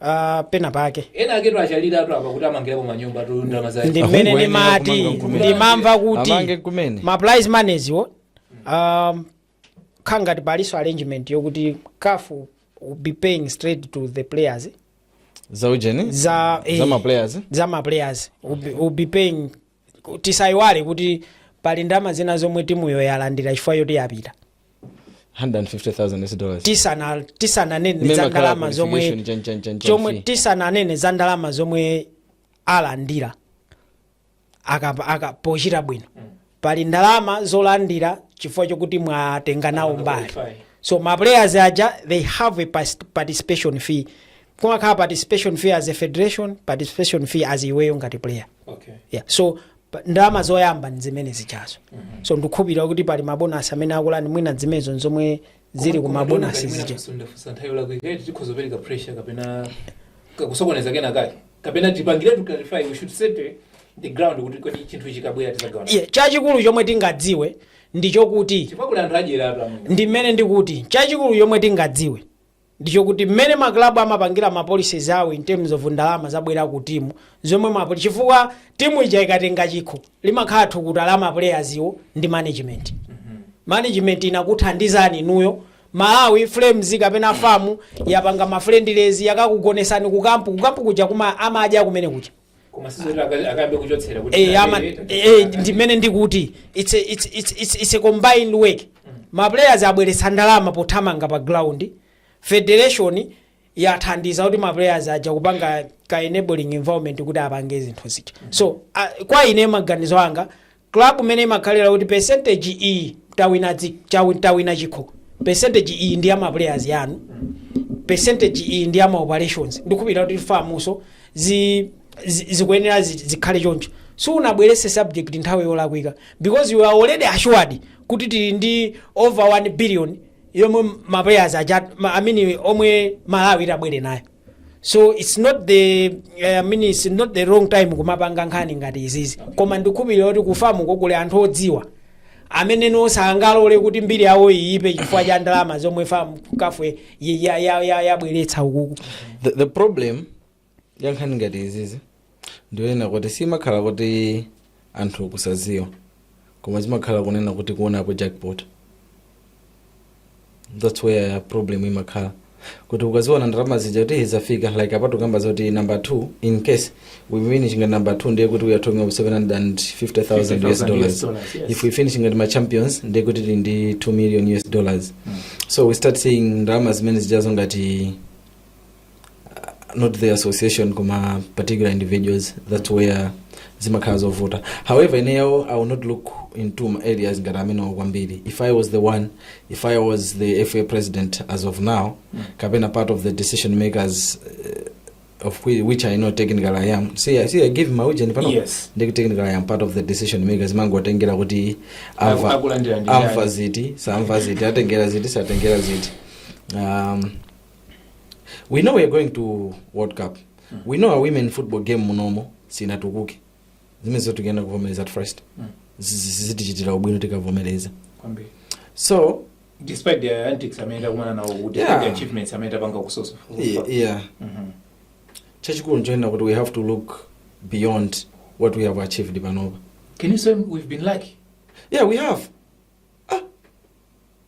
ah, pena pake ena aketu achaliratu apa kuti amangirapo manyumba tu ndalama zaye ndi mmene Ahungu ayenera ndimati kumanga nkumene. ndimamva kuti Amange kumene. ma prize money-ziwo um, nkhani yake palinso arrangement yokuti CAF will be paying straight to the players zaujeni za eh, za maplayers za ma players will be, will be paying tisaiwale kuti pali ndalama zina zomwe timuyo yalandira chifukwa choti yapita 150,000 US dollars. tisana tisananene mmene za makhala ndalama qualification zomwe tion- tion- tion- tion qualification fee. tisananene za ndalama zomwe alandira akapa aka pochita bwino pali ndalama zolandira chifukwa chokuti mwatenga nawo mbali so ma players aja they have a pas- participation fee kumakhala participation fee as a federation participation fee as iweyo ngati player okay yeah. so pa- ndalama zoyamba nzimene zijazo so ndikukhulupirira kuti pali mabonasi amene akulandira mwina zimenezo nzomwe zili ku mabonasi zija ndafunsa nthawi yolakwika kuti tikhoza kupereka pressure kapena ka- kusokoneza kena kake kapena tipangire to clarify we should set eh, the ground kuti kodi chinthu chikabwera tizagawana bwanji yeah. chachikulu chomwe tingadziwe ndichokuti chifukwa kuli anthu adyera apo amene ndi mmene ndikuti chachikulu chomwe tingadziwe ndichokuti mmene ma club amapangira ma policies awo in terms of ndalama zabwera ku team zomwe ma poli- chifukwa timu ija ikatenga chikho limakhala thukuta la ma players iwo ndi management management inakuthandizani inuyo malawi flames kapena FAM yapanga ma friendlies yakakugonesani kukampu kukampu kuja kuma amadya kumene kuja koma sizoti aka- akayambe kuchotsera kuti Eh, ama- eh, eh, ndimene ndikuti it's a, it's, it's, it's, it's a combined work ma players abweretsa ndalama pothamanga pa ground federation yathandiza kuti ma players aja kupanga ka enabling environment kuti apange zinthu zija so uh, kwa ine maganizo anga Club mmene imakhalira kuti percentage iyi tawina dzi- chawi- tawina chikho percentage iyi ndi ya ma players yanu percentage iyi ndi ya ma operations ndikukhulupirira kuti FAMnso zi, zi, zikuyenera zi, zikhale choncho sunabwerese subject nthawi yolakwika because you are already assured kuti tili ndi over 1 billion yomwe ma players aja ma, I mean yomwe Malawi itabwere nayo so its not the eh, I mean, its not the wrong time kumapanga nkhani ngati izizi koma ndikukhulupirira kuti ku FAM kuli anthu odziwa amene ndi osangalole kuti mbiri yawo iyipe chifukwa cha ndalama zomwe FAM CAF yabweretsa ukuku the, the problem ya nkhani ngati izizi ndi yonena kuti simakhala kuti anthu kusaziwa koma zimakhala kunena kuti kuonapo jackpot that's where problem imakhala kuti ukaziona ndalama zija kuti izafika like apatu kamba zoti number 2 in case we finish ngati number 2 ndiye kuti we are talking of 750000 us dollars dollars, yes. if we finish ngati ma champions ndiye kuti tili ndi 2 million us dollars so we start seeing ndalama zimene zijazo ngati not the association koma particular individuals that's where zimakhala zovuta however ineyo i will not look into my areas ngati amenewo kwambiri if i was the one if i was the fa president as of now kapena part of the decision makers uh, of whi- which i know technical i am see, I- see i give my ujeni pano Yes. ndi technical i am part of the decision makers zimangotengera kuti Aku- akulandira ndi amva yani. ziti samva ziti atengera ziti satengera ziti um, we know we're going to world cup we know our women football game munomo sinatukuke zimenezo tikuyenera kuvomereza at first Mm. Zizi- zitichitira ubwino tikavomereza kwambiri so despite the antics amene takumana nawo kuti Yeah. the achievements amene tapanga kusosa yeah, yeah. Mhm. chachikulu nchonena kuti we have to look beyond what we have achieved panopa can you say we've been lucky yeah we have ah,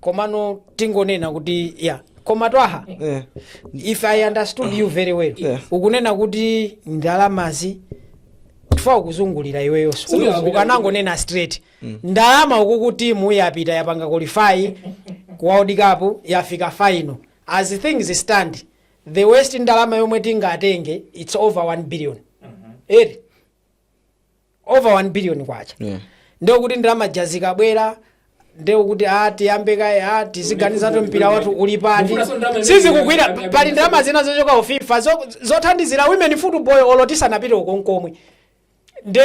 komano tingonena kuti ya koma twaha Eh. if i understood you very well Yeah. ukunena kuti ndalamazi tifa ukuzungulira iweyonso Uyo- ukanangonena straight ndalama uku timu yapita yapanga qualify ku world cup yafika final as things stand the worst ndalama yomwe tingatenge it's over 1 billion eri over 1 billion kwacha Yeah. ndiye kuti ndalama zija zikabwera ndiye kuti a tiyambe kaye a tiziganiza kuti mpira wathu uli pati Mufunanso ndalama imene- sizikugwira imene- pali ndalama zina zochoka ku fifa zo- zothandizira women football olo tisanapite uko nkomwe nde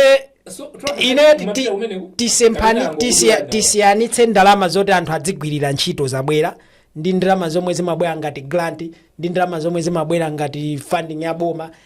So, Trump, ine mapita ti- kumeneko? tisempani Kapena tisi- angokuyanda. tisiyanitse ndalama zoti anthu adzigwirira ntchito zabwera ndi ndalama zomwe zimabwera ngati grant ndi ndalama zomwe zimabwera ngati funding ya boma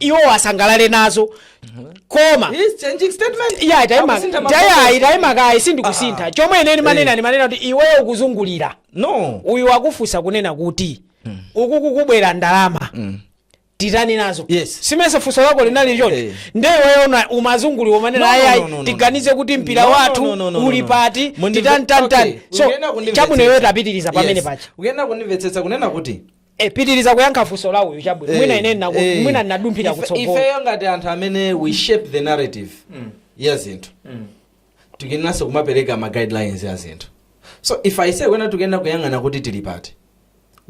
iwo asangalale nazo koma He's changing statement. iya taima Akusintha mafunso. tayayi taima kaye sindikusintha chomwe ine nimanena nimanena kuti iweyo ukuzungulira No. uyu wakufunsa kunena kuti uku kukubwera ndalama titani nazo Yes. si mesa funso lako linali choncho Eh. nde iweyo una- umazungulira umanena No, no, ayayi no, no, no, tiganize no. kuti mpira No, no, wathu no, no, no, uli no. pati Mundi- titani tani tani Okay, so uyenera kundimvetsetsa. chabwino iweyo tapitiriza pamene Yes. paja uyenera kundimvetsetsa kunena kuti Eh, pitiriza kuyankha funso la uyu chabwino Eh, mwina ine ndinaku- eh. mwina ndinadumphira Ife- kutsogolo ifeyo ngati anthu amene we shape the narrative ya zinthu tikuyeneranso kumapereka ma guidelines ya zinthu so if i say kunena tikuyenera kuyang'ana kuti tili pati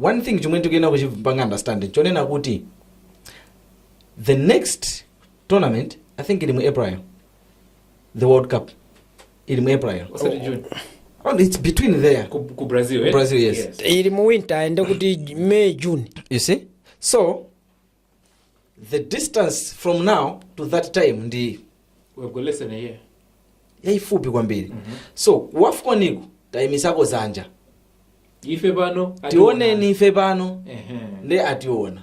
one thing chomwe tikuyenera kuchipanga understand ndi chonena kuti the next tournament i think ili mu april the world cup ili mu april osati june oh, it's between there ku, ku Brazil eh? Brazil, yes. ili mu winter ende kuti may june you see so the distance from now to that time ndi we've got less than a year yayifupi kwambiri so kuwefukoniko tayimitsako dzanja ife pano ationa. tioneni ife pano Ehe. nde ationa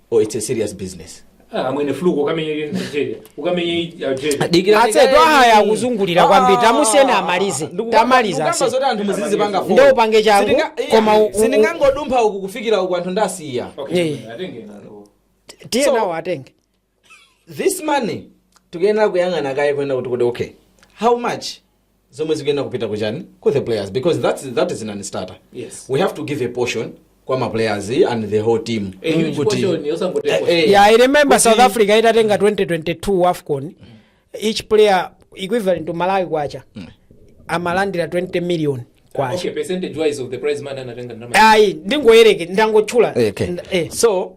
oh it's a serious business Ah, amwene fluke ukamenye Nigeria ukamenye Algeria dikira atse twahaya akuzungulira kwambiri tamusiyeni amalize tamaliza ndikamba kaye zoti anthu muzizipanga Nde upange changu, Sindinga- iya, koma u- u- sindingangodumpha uku kufikira uko anthu ndasiya okay Yeah. chimwene, atenge nalo tiye So- nawo atenge this money tikuyenera kuyang'ana kaye kunena kuti kuti okay how much zomwe zikuyenera kupita kuchani ku the players because that's, that is non starter Yes. we have to give a portion kwa ma players and the whole team A huge Kuti- portion, osangoti Eh, portion. eh, yeah i remember Kuti- south africa itatenga 2022 afcon each player equivalent to malawi kwacha amalandira 20 million kwacha Okay, percentage wise of the prize money anatenga ndalama. ayi ndingoyerekeza ndangotchula Eh, okay. Nda- eh. so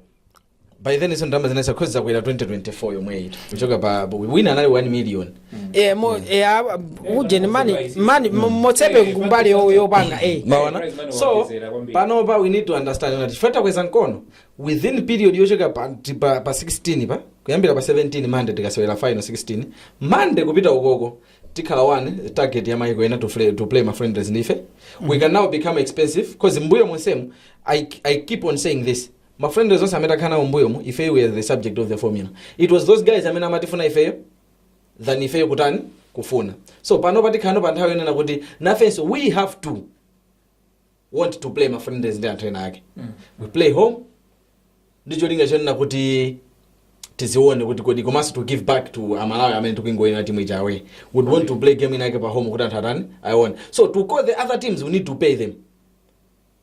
by then izo ndalama zina since then zakwera 2024 yomweyi kuchoka pa wina anali 1 million Eh, mo- eh, ah, ujeni mani mani mo- motsepe kumbali yo- yopanga eh. mwaona Prize money so waongezera kwambiri. panopa we need to understand that chifukwa takweza mkono within period yochoka pa, ti- pa, pa 16 pa kuyambira pa 17 Monday tikasewera final 16 Monday kupita ukoko tikhala one target ya maiko ena to, fle- to play ma friendlies ndife we can now become expensive cause mbuyo monsemu I, i keep on saying this ma friendlies onse amene takhala nawo mbuyomu ifeyo we are the subject of the formula it was those guys amene amatifuna ifeyo than ifeyo kutani kufuna so pano tafikano pa nthawi yonena kuti nafenso we have to want to play ma friendlies ndi anthu ena ake we play home ndi cholinga chonena kuti tidzione kuti kodi komanso to give back to amalawi amene akungoiona timu ija away would want to play game inake pa home kuti anthu atani ayione so to call the other teams we need to pay them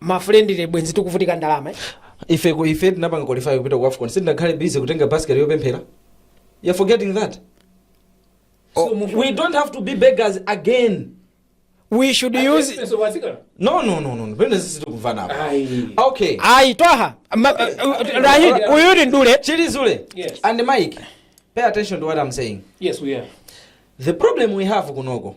ma friendly bwenzi tikuvutika ndalama eh? ife ku- ife tinapanga qualify kupita ku afcon sindinakhale busy kutenga basket yopemphera you're forgetting that oh, we don't have to be beggars again we should use no no no no no pena sisi tikumvana apa okay ayi twaha ma- uh, rahid uyu ni ndule chilizule Yes. and mike pay attention to what i'm saying Yes, we are. the problem we have kunoko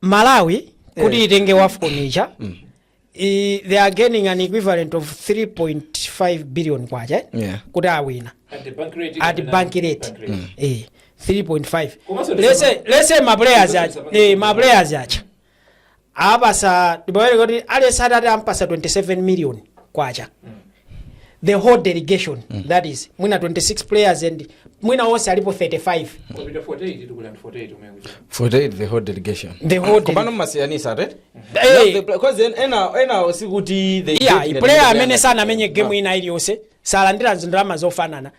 malawi kuti Eh. itenge wafcon ija i- they are gaining an equivalent of 3.5 billion kwacha Yeah. kuti awina At the bank rate. at bank rate eh 3.5 Komanso ndi- let's say let's say my players Komanso acha ndi- eh my players acha apasa ndibawere kuti alesa atati ampasa 27 million kwacha the whole delegation that is mwina 26 players and mwina onse alipo 35 Kupita 48 tikhala ndi 48 umene kuchita. 48 the whole delegation The whole dele- komano mmasiyanisa right Hey. Not the- because en- ena ena sikuti the yeah player amene sanamenye game ina iliyonse salandira ndalama zofanana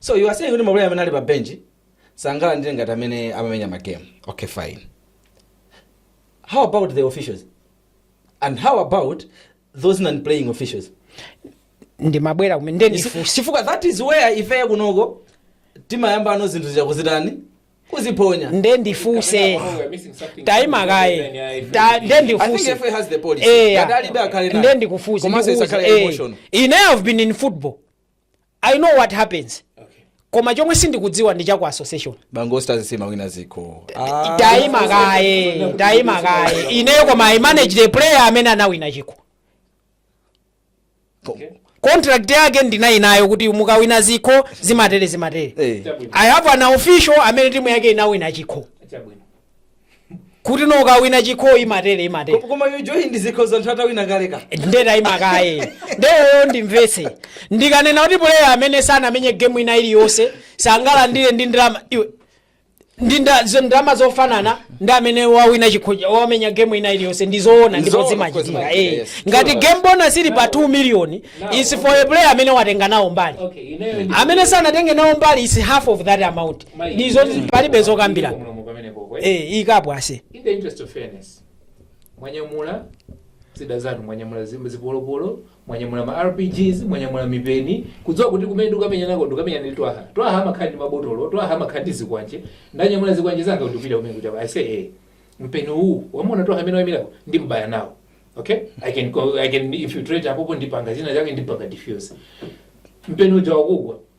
so you are saying kuti maplayer amene ali pa bench sangalandire ngati amene amamenya ma game okay fine how about the officials and how about those non playing officials ndimabwera komweko You see, nde ndifunsa chifukwa that is where ifeyo kunoko timayambano zinthu zija kuzitani kuziphonya nde ndifunse Taima kaye. Ta- I think nde ndifunse FAM has the policy. Eya. Ngati alibe akhale nayo. nde ndifunse Komanso ndikuuze, isakhale eh, emotional. ine I've been in football i know what happens koma chomwe sindikudziwa ndi cha ku association bango stars sima wina ziko ah. taima kaye taima kaye ineyo koma i manage the player amene anawina chikho contract yake ndinali nayo kuti mukawina zikho zimatere zimatere hey. i have an official amene timu yake inawina chikho kuti mukawina chikho imatere imatere Ko- koma yo join ndizikhoza anthu atawina kale ka nde taima kaye ineyo ndimvetse ndikanena kuti puleya amene sanamenye gemu ina iliyonse sangalandire ndi ndalama iwe ndi nda- zo- ndalama zofanana ndi amene wawina chikhoja wamenya gemu ina iliyonse ndizoona ndipo Zoona, zimachitika zimachitika, eh. yes. ngati game bonus ili pa 2 million is for a player amene watenga nawo mbali Okay, ineyo ndi- amene sanatenge nawo mbali is half of that amount Izo zi- palibe zokambirana. Mulomo pamenepo kwe. Eh, ikapo aise. in the interest of fairness mwanyamula zida zanu mwanyamula zim- zipolopolo mwanyamula ma rpgs mwanyamula mipeni kudziwa kuti kumene ndikamenyanako ndikamenyana ndi twaha twaha amakhala ndi mabotolo twaha amakhala ndi zikwanje ndanyamula zikwanje zanga ndikupita kumene kuti i say eh mpeni uwu wamona twaha amene wayimirapo ndimbaya nawo okay i can go- i can infiltrate apopo ndipanga zina zake ndipanga diffuse mpeni uja wakugwa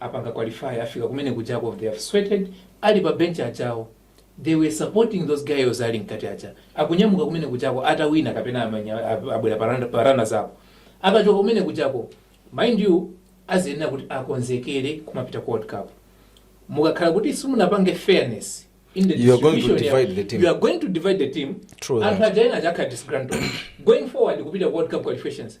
apanga ku qualify afika kumene kujako they have sweated ali pa bench ajawo they were supporting those guys ali mkati aja akunyamuka kumene kujako atawina kapena amanya- ab- abwera parana- parana zako akachoka kumene kujako mind you aziyenera kuti akonzekere kumapita ku world cup mukakhala kuti simunapange fairness in the You are going to distribution ya- divide the team. you are going to divide the team True anthu that. aja ena azakhala disgruntled going forward kupita ku world cup qualifications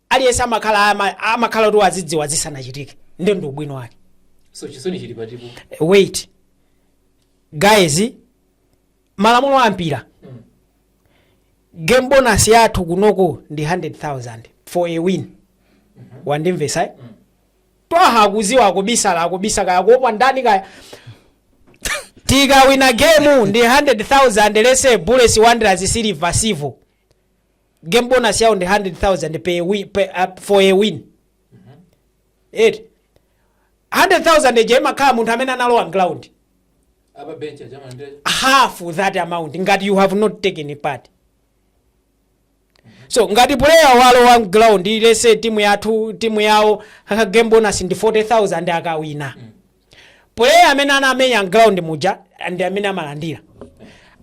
aliyense amakhala ama- amakhala kuti wazidziwa zisanachitike nde ndi ubwino wake so chisoni chili pati apo wait guys malamulo a mpira game bonus yathu kunoko ndi 100000 for a win wandimvesa eh? twaha akuziwa akubisala akubisa kaya kuopa ndani kaya tikawina game ndi 100000 lese bullets wanderers silver civo game bonus yawo ndi 100000 per wi- per- uh, for a win eti 100000 ija imakhala munthu amene analowa mground a pa bench amakhala ndi half that amount ngati you have not taken part so ngati player walowa mground lese timu yathu timu yawo game bonus ndi 40000 akawina Player amene anamenya mground muja ndi amene amalandira.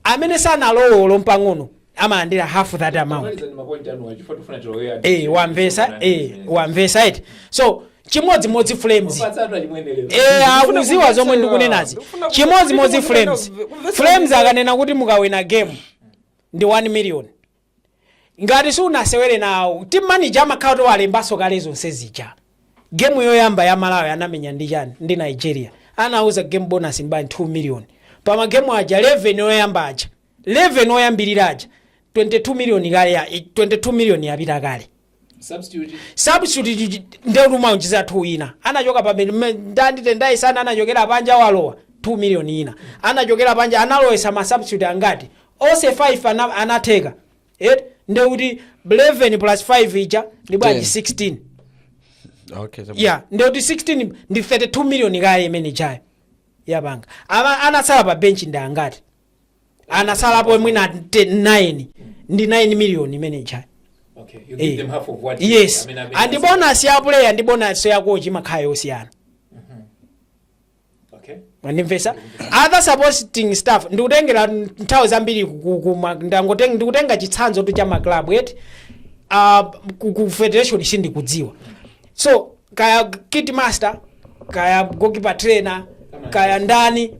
Amene sanalowe olo mpang'ono amalandira half that amount. Tamalizani mapointi anuwo chifukwa tifuna tilowe Eh, wamvesa eh, wamvesa eti. So chimodzimodzi Flames. Mapatsa atu achimwene lero. Eh, akuziwa zomwe ndikunenazi. Ndikufuna Chimodzimodzi kumvetsa- Flames. kumvetsa- Flames akanena kuti mukawina game ndi 1 million. Ngati sunasewere nawo, team manager amakhala kuti walembanso kale zonse zija. Game yoyamba ya Malawi anamenya ndi chani? Ndi Nigeria. Anawuza game bonus ndi bwanji 2 million. Pa ma game aja 11 oyamba aja, 11 oyambirira aja, 22 million kale, 22 million yapita kale. Substitute ndekuti umaonjezera 2 ina anachoka pa bedi me- ndandi tendayi sana anachokera panja walowa 2 million ina anachokera panja analowesa ma substitute angati onse 5 ana, anatheka eti ndekuti 11 plus 5 ija ndi bwanji 16 okay chabwino. ya ndekuti 16 ndi 32 million kaye imene ijayo yapanga Ama- anatsala pa benchi ndi angati anatsalapo mwina 9 ndi 9 miliyoni imene ijayo Okay, you give Eh. them half of what you- yes amene amene andi asa- bonus ya player ndi bonus ya coach imakhala yosiyana Okay. ndimvesa other supporting staff ndikutengera nthawi zambiri ku- ku- ku ma- ndangoten- ndikutenga chitsanzo tu cha maclub eti uh, ku, ku federation sindikudziwa so kaya kit master kaya goalkeeper trainer kaya ndani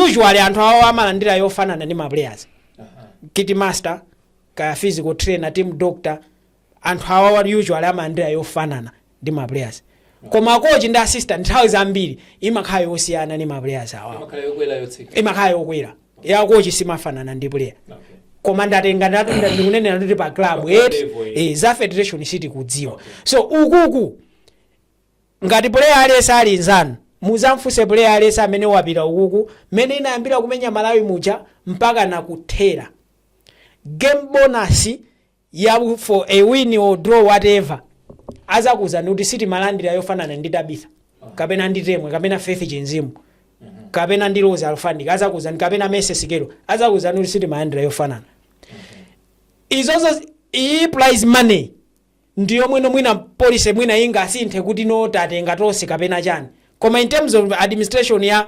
usually anthu awawa amalandira yofanana ndi maplayers kit master kaya physical trainer team doctor anthu awawa usually amalandira yofanana ndi maplayers koma kochi ndi assistant nthawi zambiri imakhala yosiyana ndi maplayers awawa imakhala yokwera yotsika imakhala yokwera ya kochi simafanana ndi player koma ndatenga ndatu nda- ndikunenera kuti pa club eti level, eh. eh, za federation sitikudziwa so ukuku ngati player aliyense ali nzanu muzamfunse player aliyense amene wapita ukuku mmene inayambira kumenya malawi muja mpaka nakuthera game bonus ya for a win or draw whatever azakuuzani kuti sitimalandira yofanana ndi tabitha kapena ndi temwe kapena faith chinzimu kapena ndi rose alfanic azakuuzani kapena Mercy Sikelo azakuuzani kuti sitimalandira yofanana izozo iyi prize money ndi yomwe no mwina policy mwina ingasinthe kuti no tatenga tonse kapena chani koma in terms of administration ya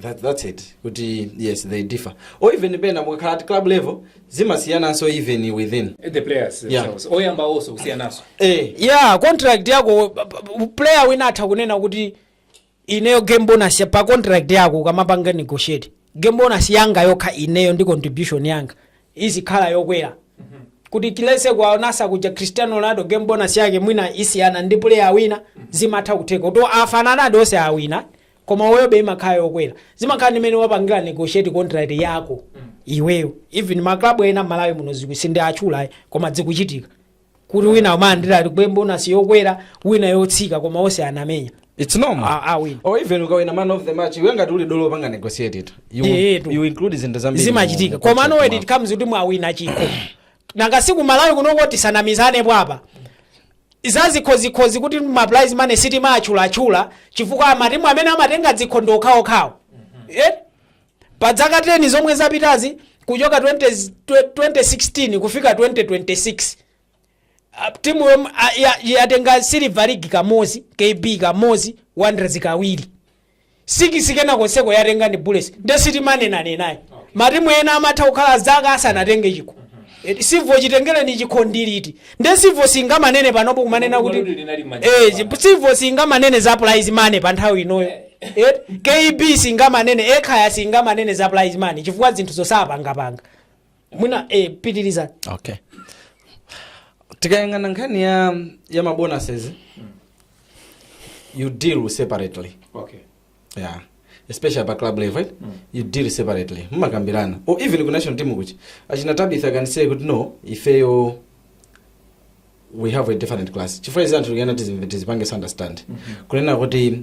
That, that's it kuti yes they differ or even pena mukakhala at club level zimasiyananso even within the players Yeah. themselves oyamba also kusiyanaso eh, yeah contract yako p- p- player wina atha kunena kuti ineyo game bonus ya- pa contract yako ukamapanga negotiate game bonus yanga yokha ineyo ndi contribution yanga izikhala yokwera kuti at least kwa anzathu kuja cristiano ronaldo game bonus yake mwina isiyana ndi player awina zimatha kutheka kuti afananadi onse awina koma uyobe imakhala yokwera zimakhala ndi mene wapangila negotiate contract yako iweyo even ma club ena mmalawi muno ziku- sindiwatchula ayi, koma dzikuchitika kuti wina umalandira game bonus yokwera wina yotsika koma onse anamenya It's normal. Ah, ah, win. Or even ukawina man of the match, iwe ngati uli dolo panga negotiate it. You, Yeah, yeah, you include zinthu zambiri. zimachitika mu- koma contract mwako. when it comes kuti mwawina chikho nanga si ku malawi kunoko tisanamizanepo apa za zikhozikhozi kuti ma prize money sitimaatchulatchula chifukwa amatimu amene amatenga dzikho ndi okhawokhawo Eh? pa dzaka 10 zomwe zapitazi kuchoka 20, 2016 kufika 2026 Ah, timu yom- ah, ya- yatenga Silver ligi kamodzi KB kamodzi Wanderers kawiri sikisi kena konseko yatenga ndi Bullets nde sitimanenanenayi matimu ena amatha kukhala zaka asanatenge chikho Eh, Civo chitengereni chikho ndi liti nde Civo singamanene panopo kumanena kuti Kodi linali manja Eh, apa? chi- Civo singamanene za prize money pa nthawi inoyo Eh, KB singamanene Ekhaya singamanene za prize money chifukwa zinthu zosapangapanga mwina eh, pitirizani okay tikayang'ana nkhani ya ya mabonuses you deal separately okay yeah especially pa club level right? you deal separately mumakambirana or even ku national team kuti achina Tabitha can say kuti no ifeyo we have a different class chifukwa izi anthu tikanati tizipange understand kunena kuti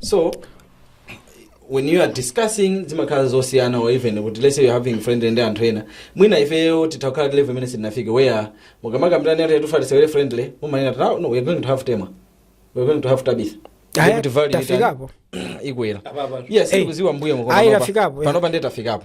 so when you are discussing zimakhala zosiyana or even kuti let's say you're having friendly ndi anthu ena mwina ifeyo titakhala pa level imene sitinafike where mukamakambirani kuti tufuna tisewere friendly mumanena kuti "Ah, no we're going to have Temwa we're going to have Tabitha Aya, Kuti value itani? tafikapo ikwera Apapa. yes Hey. kudziwa mbuyo Ayi, tafikapo, yeah. panopa ndiye tafikapo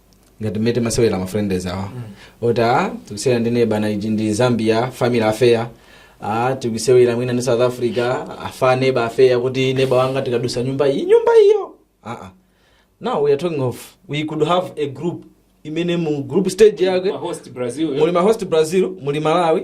ngati mmene timasewera ma friendly awa oti a tikusewera ndi neba uyu ndi Zambia family affair a tikusewera mwina ndi South Africa afa neba affair kuti neba wanga tikadusa nyumba iyi nyumba iyo aa now we are talking of we could have a group imene mu group stage yake Ma host Brazil. muli ma host Brazil muli Malawi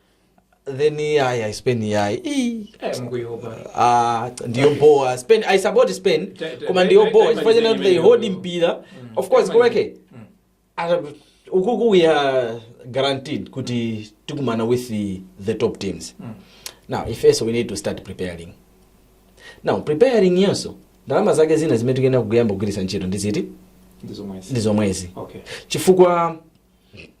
then iyayi ayi Spain iyayi Ii. Eh, mukuiopa. Ah, ndiyo bho Spain I support Spain Ta- ta- koma ndiyo ta- bho ta- chifukwa ta- chena ta- they ta- hold ta- mpira Mm. of course Ta- kweke Mm. Ata- ukuku we are guaranteed kuti tikumana with the, the top teams Mm. now if yes we need to start preparing now preparing nayonso ndalama zake zina zimene tikuyenera kuyamba kugwiritsa ntchito ndi ziti Ndizomwezi. ndi zomwezi Okay. chifukwa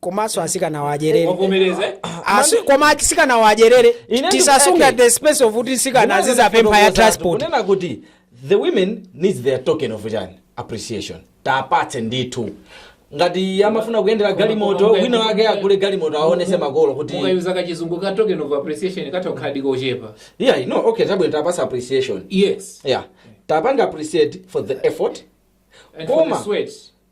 komanso asikanawo adyerere wavomereza eh? Asi- koma asikanawo adyerere Ine tisasunga ndikuti- the space of kuti asikana azizapempha ya transport kunena kuti the women needs their token of chani appreciation tiwapatse ndithu ngati amafuna kuyendera galimoto Koma- wina wake agule galimoto aonese makolo kuti mukayuza kachizungu ka token of appreciation katha kukhaladi kochepa yeah no okay chabwino tapatsa appreciation yes yeah tapanga appreciate for the effort and for the Koma. sweat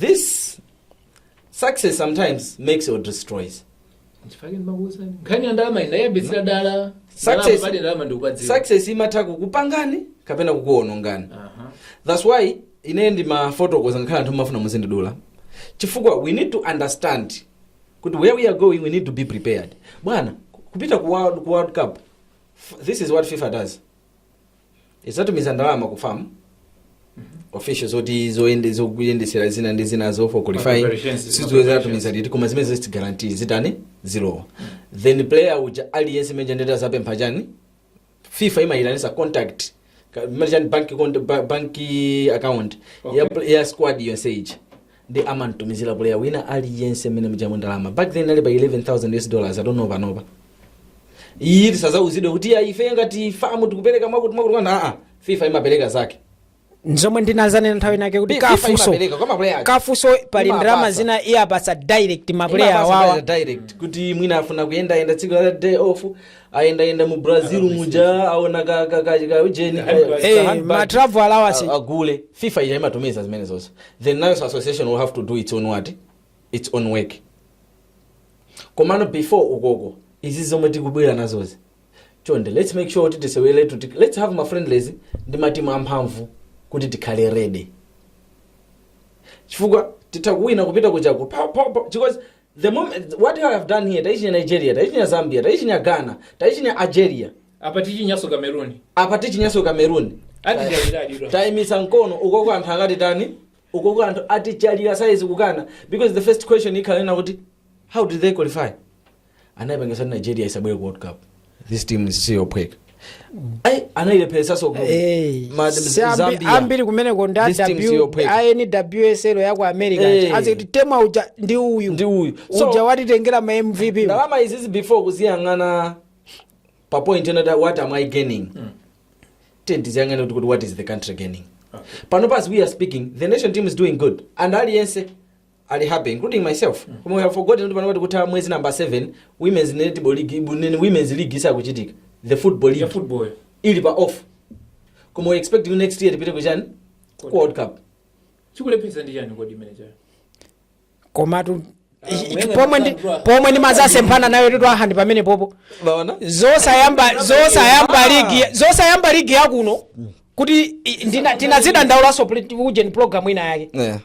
This success sometimes makes or destroys. Nchifukwa chake ndimakuwuzani. Nkhani ya ndalama ndinayambitsira dala. Ndalama Success, pali ndalama ndikupadziwa. success imatha kukupangani kapena kukuonongani. Aha. That's why ine ndimafotokoza ngakhale anthu mumafuna muzindidula. Chifukwa we need to understand kuti where we are going we need to be prepared. Bwana, kupita ku World, ku World Cup. f- This is what FIFA does. izatumiza ndalama ku fam official zoti zoyende- zokuyendesera zina ndi zina zo for qualifying Preparations, sizo preparations. zatumiza liti koma zimene ziti guarantee zitani zilowo then player uja aliyense imene eh ndiye tazapempha chani fifa imayitanisa contact ka- imene chani bank, cont- ba- bank account ya, ya squad yonse ija ndi amamtumizira player wina aliyense mmene mujamo ndalama back then ali pa 11000 us dollars adono panopa ayi tisazauzidwe kuti ya ife ngati famu tikupereka mwakuti mwakuti mwana aa fifa imapereka zake nzomwe ndinazanena nthawi inake kuti FIFA kafuso imapereka kwa maplayer ake. kafuso pali Imapasa. ndalama zina imapasa direct mapuleya Imapasa wawa pale direct kuti mwina afuna kuyendayenda tsiku la day off ayendayenda mu brazil muja aona ka- ka- ka- ka ujeni ka- ka Eh, handbag. ma travel allowance. A- agule fifa ija imatumiza zimene zonse then nayonso association will have to do its own what its own work komano before ukoko izi zomwe tikubwera nazozi chonde let's make sure kuti tiseweretu ti- let's have ma friendlies ndi matimu amphamvu kuti tikhale ready chifukwa titha kuwina kupita ukoko pa- pa- pa- because the moment what you have done here taichinya nigeria taichinya zambia taichinya ghana taichinya algeria apa tichinyaso kameruni apa tichinyaso kameruni atichalira tayimisa mkono ukoko anthu akati tani ukoko anthu atichalira saizi kukana because the first question ikhala ina kuti how did they qualify anayipangisa kuti nigeria isabwere ku world cup this team si yophweka ayi anayilepheresaso ku Eh, ma- si ambi- Zambia. ambiri kumeneko ndi This team si yophweka. a NWSL yaku america Eh. aziti Temwa uja ndi uyu Ndi uyu. So- uja watitengera ma mvp ndalama izizi before kuziyang'ana pa point ena ta- what am i gaining tiyeni tiziyang'ane kuti kuti what is the country gaining pano as we are speaking the national team is doing good and aliyense ali happy including myself koma we have forgotten kuti pano tikutha mwezi number 7 women's netball league bu- nini, women's league isakuchitika the football ya league football ili pa off koma we expect you next year tipite kuchani ku world cup chikulephetsa ndi chani kodi imeneyo komatu ichi- ichi- pomwe ndi pomwe ndimazasemphana nayo ndi tu hand pamene popo bwana zosayamba zosayamba ligi zosayamba ligi yakuno kuti i- ndina- tinazidandaulanso pl- ujeni program ina yake yeah.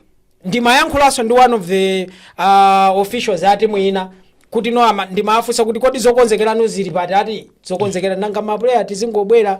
ndimayankhulanso ndi one of the uh, officials a timu ina kuti no ama- ndimafunsa kuti kodi zokonzekerano zili pati akuti zokonzekera nanga mapuleya tizingobwera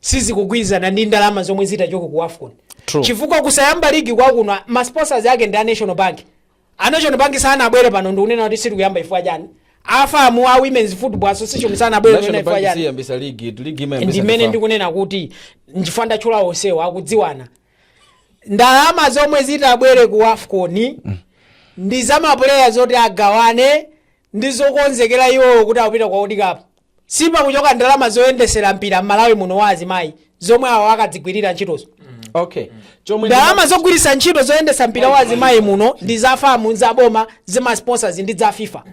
sizikugwirizana ndi ndalama zomwe zitachoke ku wafcon True. chifukwa kusayamba ligi kwakuno ma sponsors ake ndi a national bank a national bank sanabwere pano ndikunena kuti sitikuyamba chifukwa chani a FAM a women's football association sanabwere kunena national bank chifukwa chani siyambisa ligi tu ligi imayambisa ndi imene ndi FA. ndikunena kuti nchifukwa ndatchula onsewo akudziwana ndalama zomwe zitabwere ku wafcon ndi za mapuleya zoti agawane ndi zokonzekera iwowo kuti akupita kwa World Cup sipakuchoka ndalama zoyendesera mpira m'Malawi muno wa azimayi zomwe awo akadzigwirira ntchitozo okay chomwe ndalama zogwiritsa ntchito zoyendesa mpira wa azimayi muno ndi za FAM za boma za masponsors ndi za fifa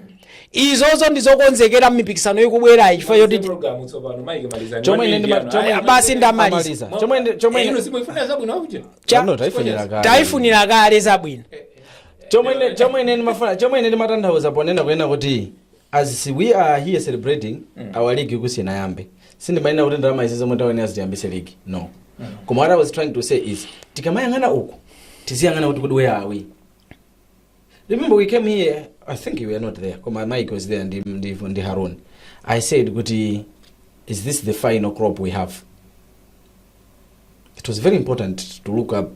izozo ndi zokonzekera m'mipikisano ikubwerayi chifukwa choti Programu tsopano, Mike, malizani. chomwe One ndi ma- indiano. chomwe- Aya, basi ndamaliza amaliza. chomwe ndi- chomwe Eh, ndi- ino simuifuna zabwino, auja? Cha- Pano taifunira kale. taifunira kale zabwino chomwe ine- chomwe ine ndimafuna chomwe ine ndimatanthauza ponena kunena kuti as we are here celebrating our league isanayambe sindimanena kuti ndalama izi zomwe taonera zitiyambise league no koma what i was trying to say is tikamayang'ana uku tiziyang'ana kuti kuti where are we remember we came here i think you were not there koma mike was there ndi, ndi, ndi harun i said kuti is this the final crop we have it was very important to look up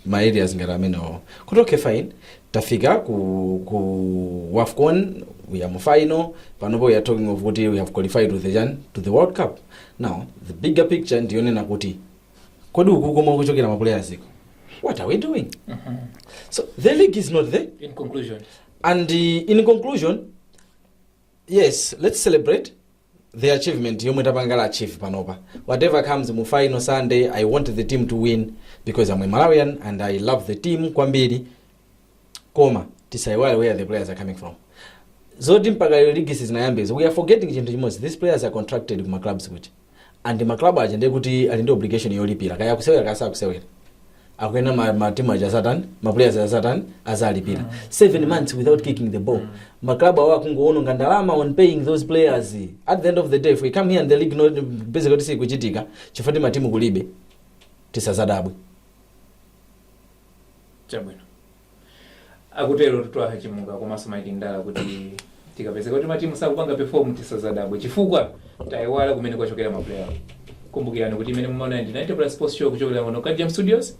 ma areas ngati amenewo kuti okay fine tafika ku, ku wafcon we are mu final panopo we are talking of kuti we have qualified to the, chan- to the world cup now the bigger picture ndiyonena kuti kodi uku komwe kuchokera ma players iko what are we doing so the league is not there in conclusion and uh, in conclusion yes let's celebrate the achievement yomwe tapanga achieve panopa whatever comes mu final sunday i want the team to win because i'm a malawian and i love the team kwambiri koma tisaiwale where the players are coming from zoti mpaka lero ligi sizinayambezo we are forgetting chinthu chimodzi these players are contracted kuma clubs kuti and ma club aja ndiye kuti ali ndi obligation yolipira kaya akusewera kaya sakusewera akuyenera ma, ma team aja certain ma players aja certain azalipira seven months without kicking the ball ma club awo akungoononga ndalama on paying those players at the end of the day if we come here and the league not busy kuti sikuchitika chifukwa ndi matimu kulibe tisazadabwe chabwino akutero Twaha Chimuka komanso mike ndala kuti tikapezeka kuti matimu sakupanga perform tisazadabwe chifukwa tayiwala kumene kwachokera maplayer kumbukirani kuti imene mumaona ndi 90 plus sports show kuchokera kuno ku Jam studios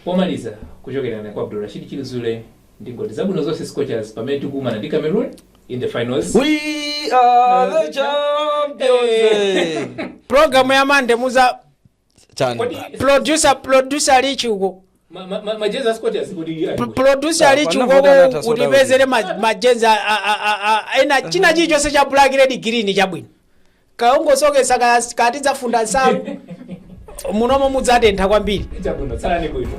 pomaliza kuchokera na kwa abdurashid chilizule ndi ngoti zabwino zonse scorchers pamene tikukumana ndi cameroon in the finals We are the champions. Hey. Program ya Monday muza chani Kodi producer producer ali chauko ma- ma- ma- majezi a Scorchers kodi iye ali kuti? producer ali Apa, chauko zavuta zatha soda utipezere ma- majezi a- a- a- a- a- ena china chilichonse cha black red green chabwino kaungosokesa ka- kaya tidzafunda nsalu munomo mudzatentha kwambiri Chabwino, tsalani bwino.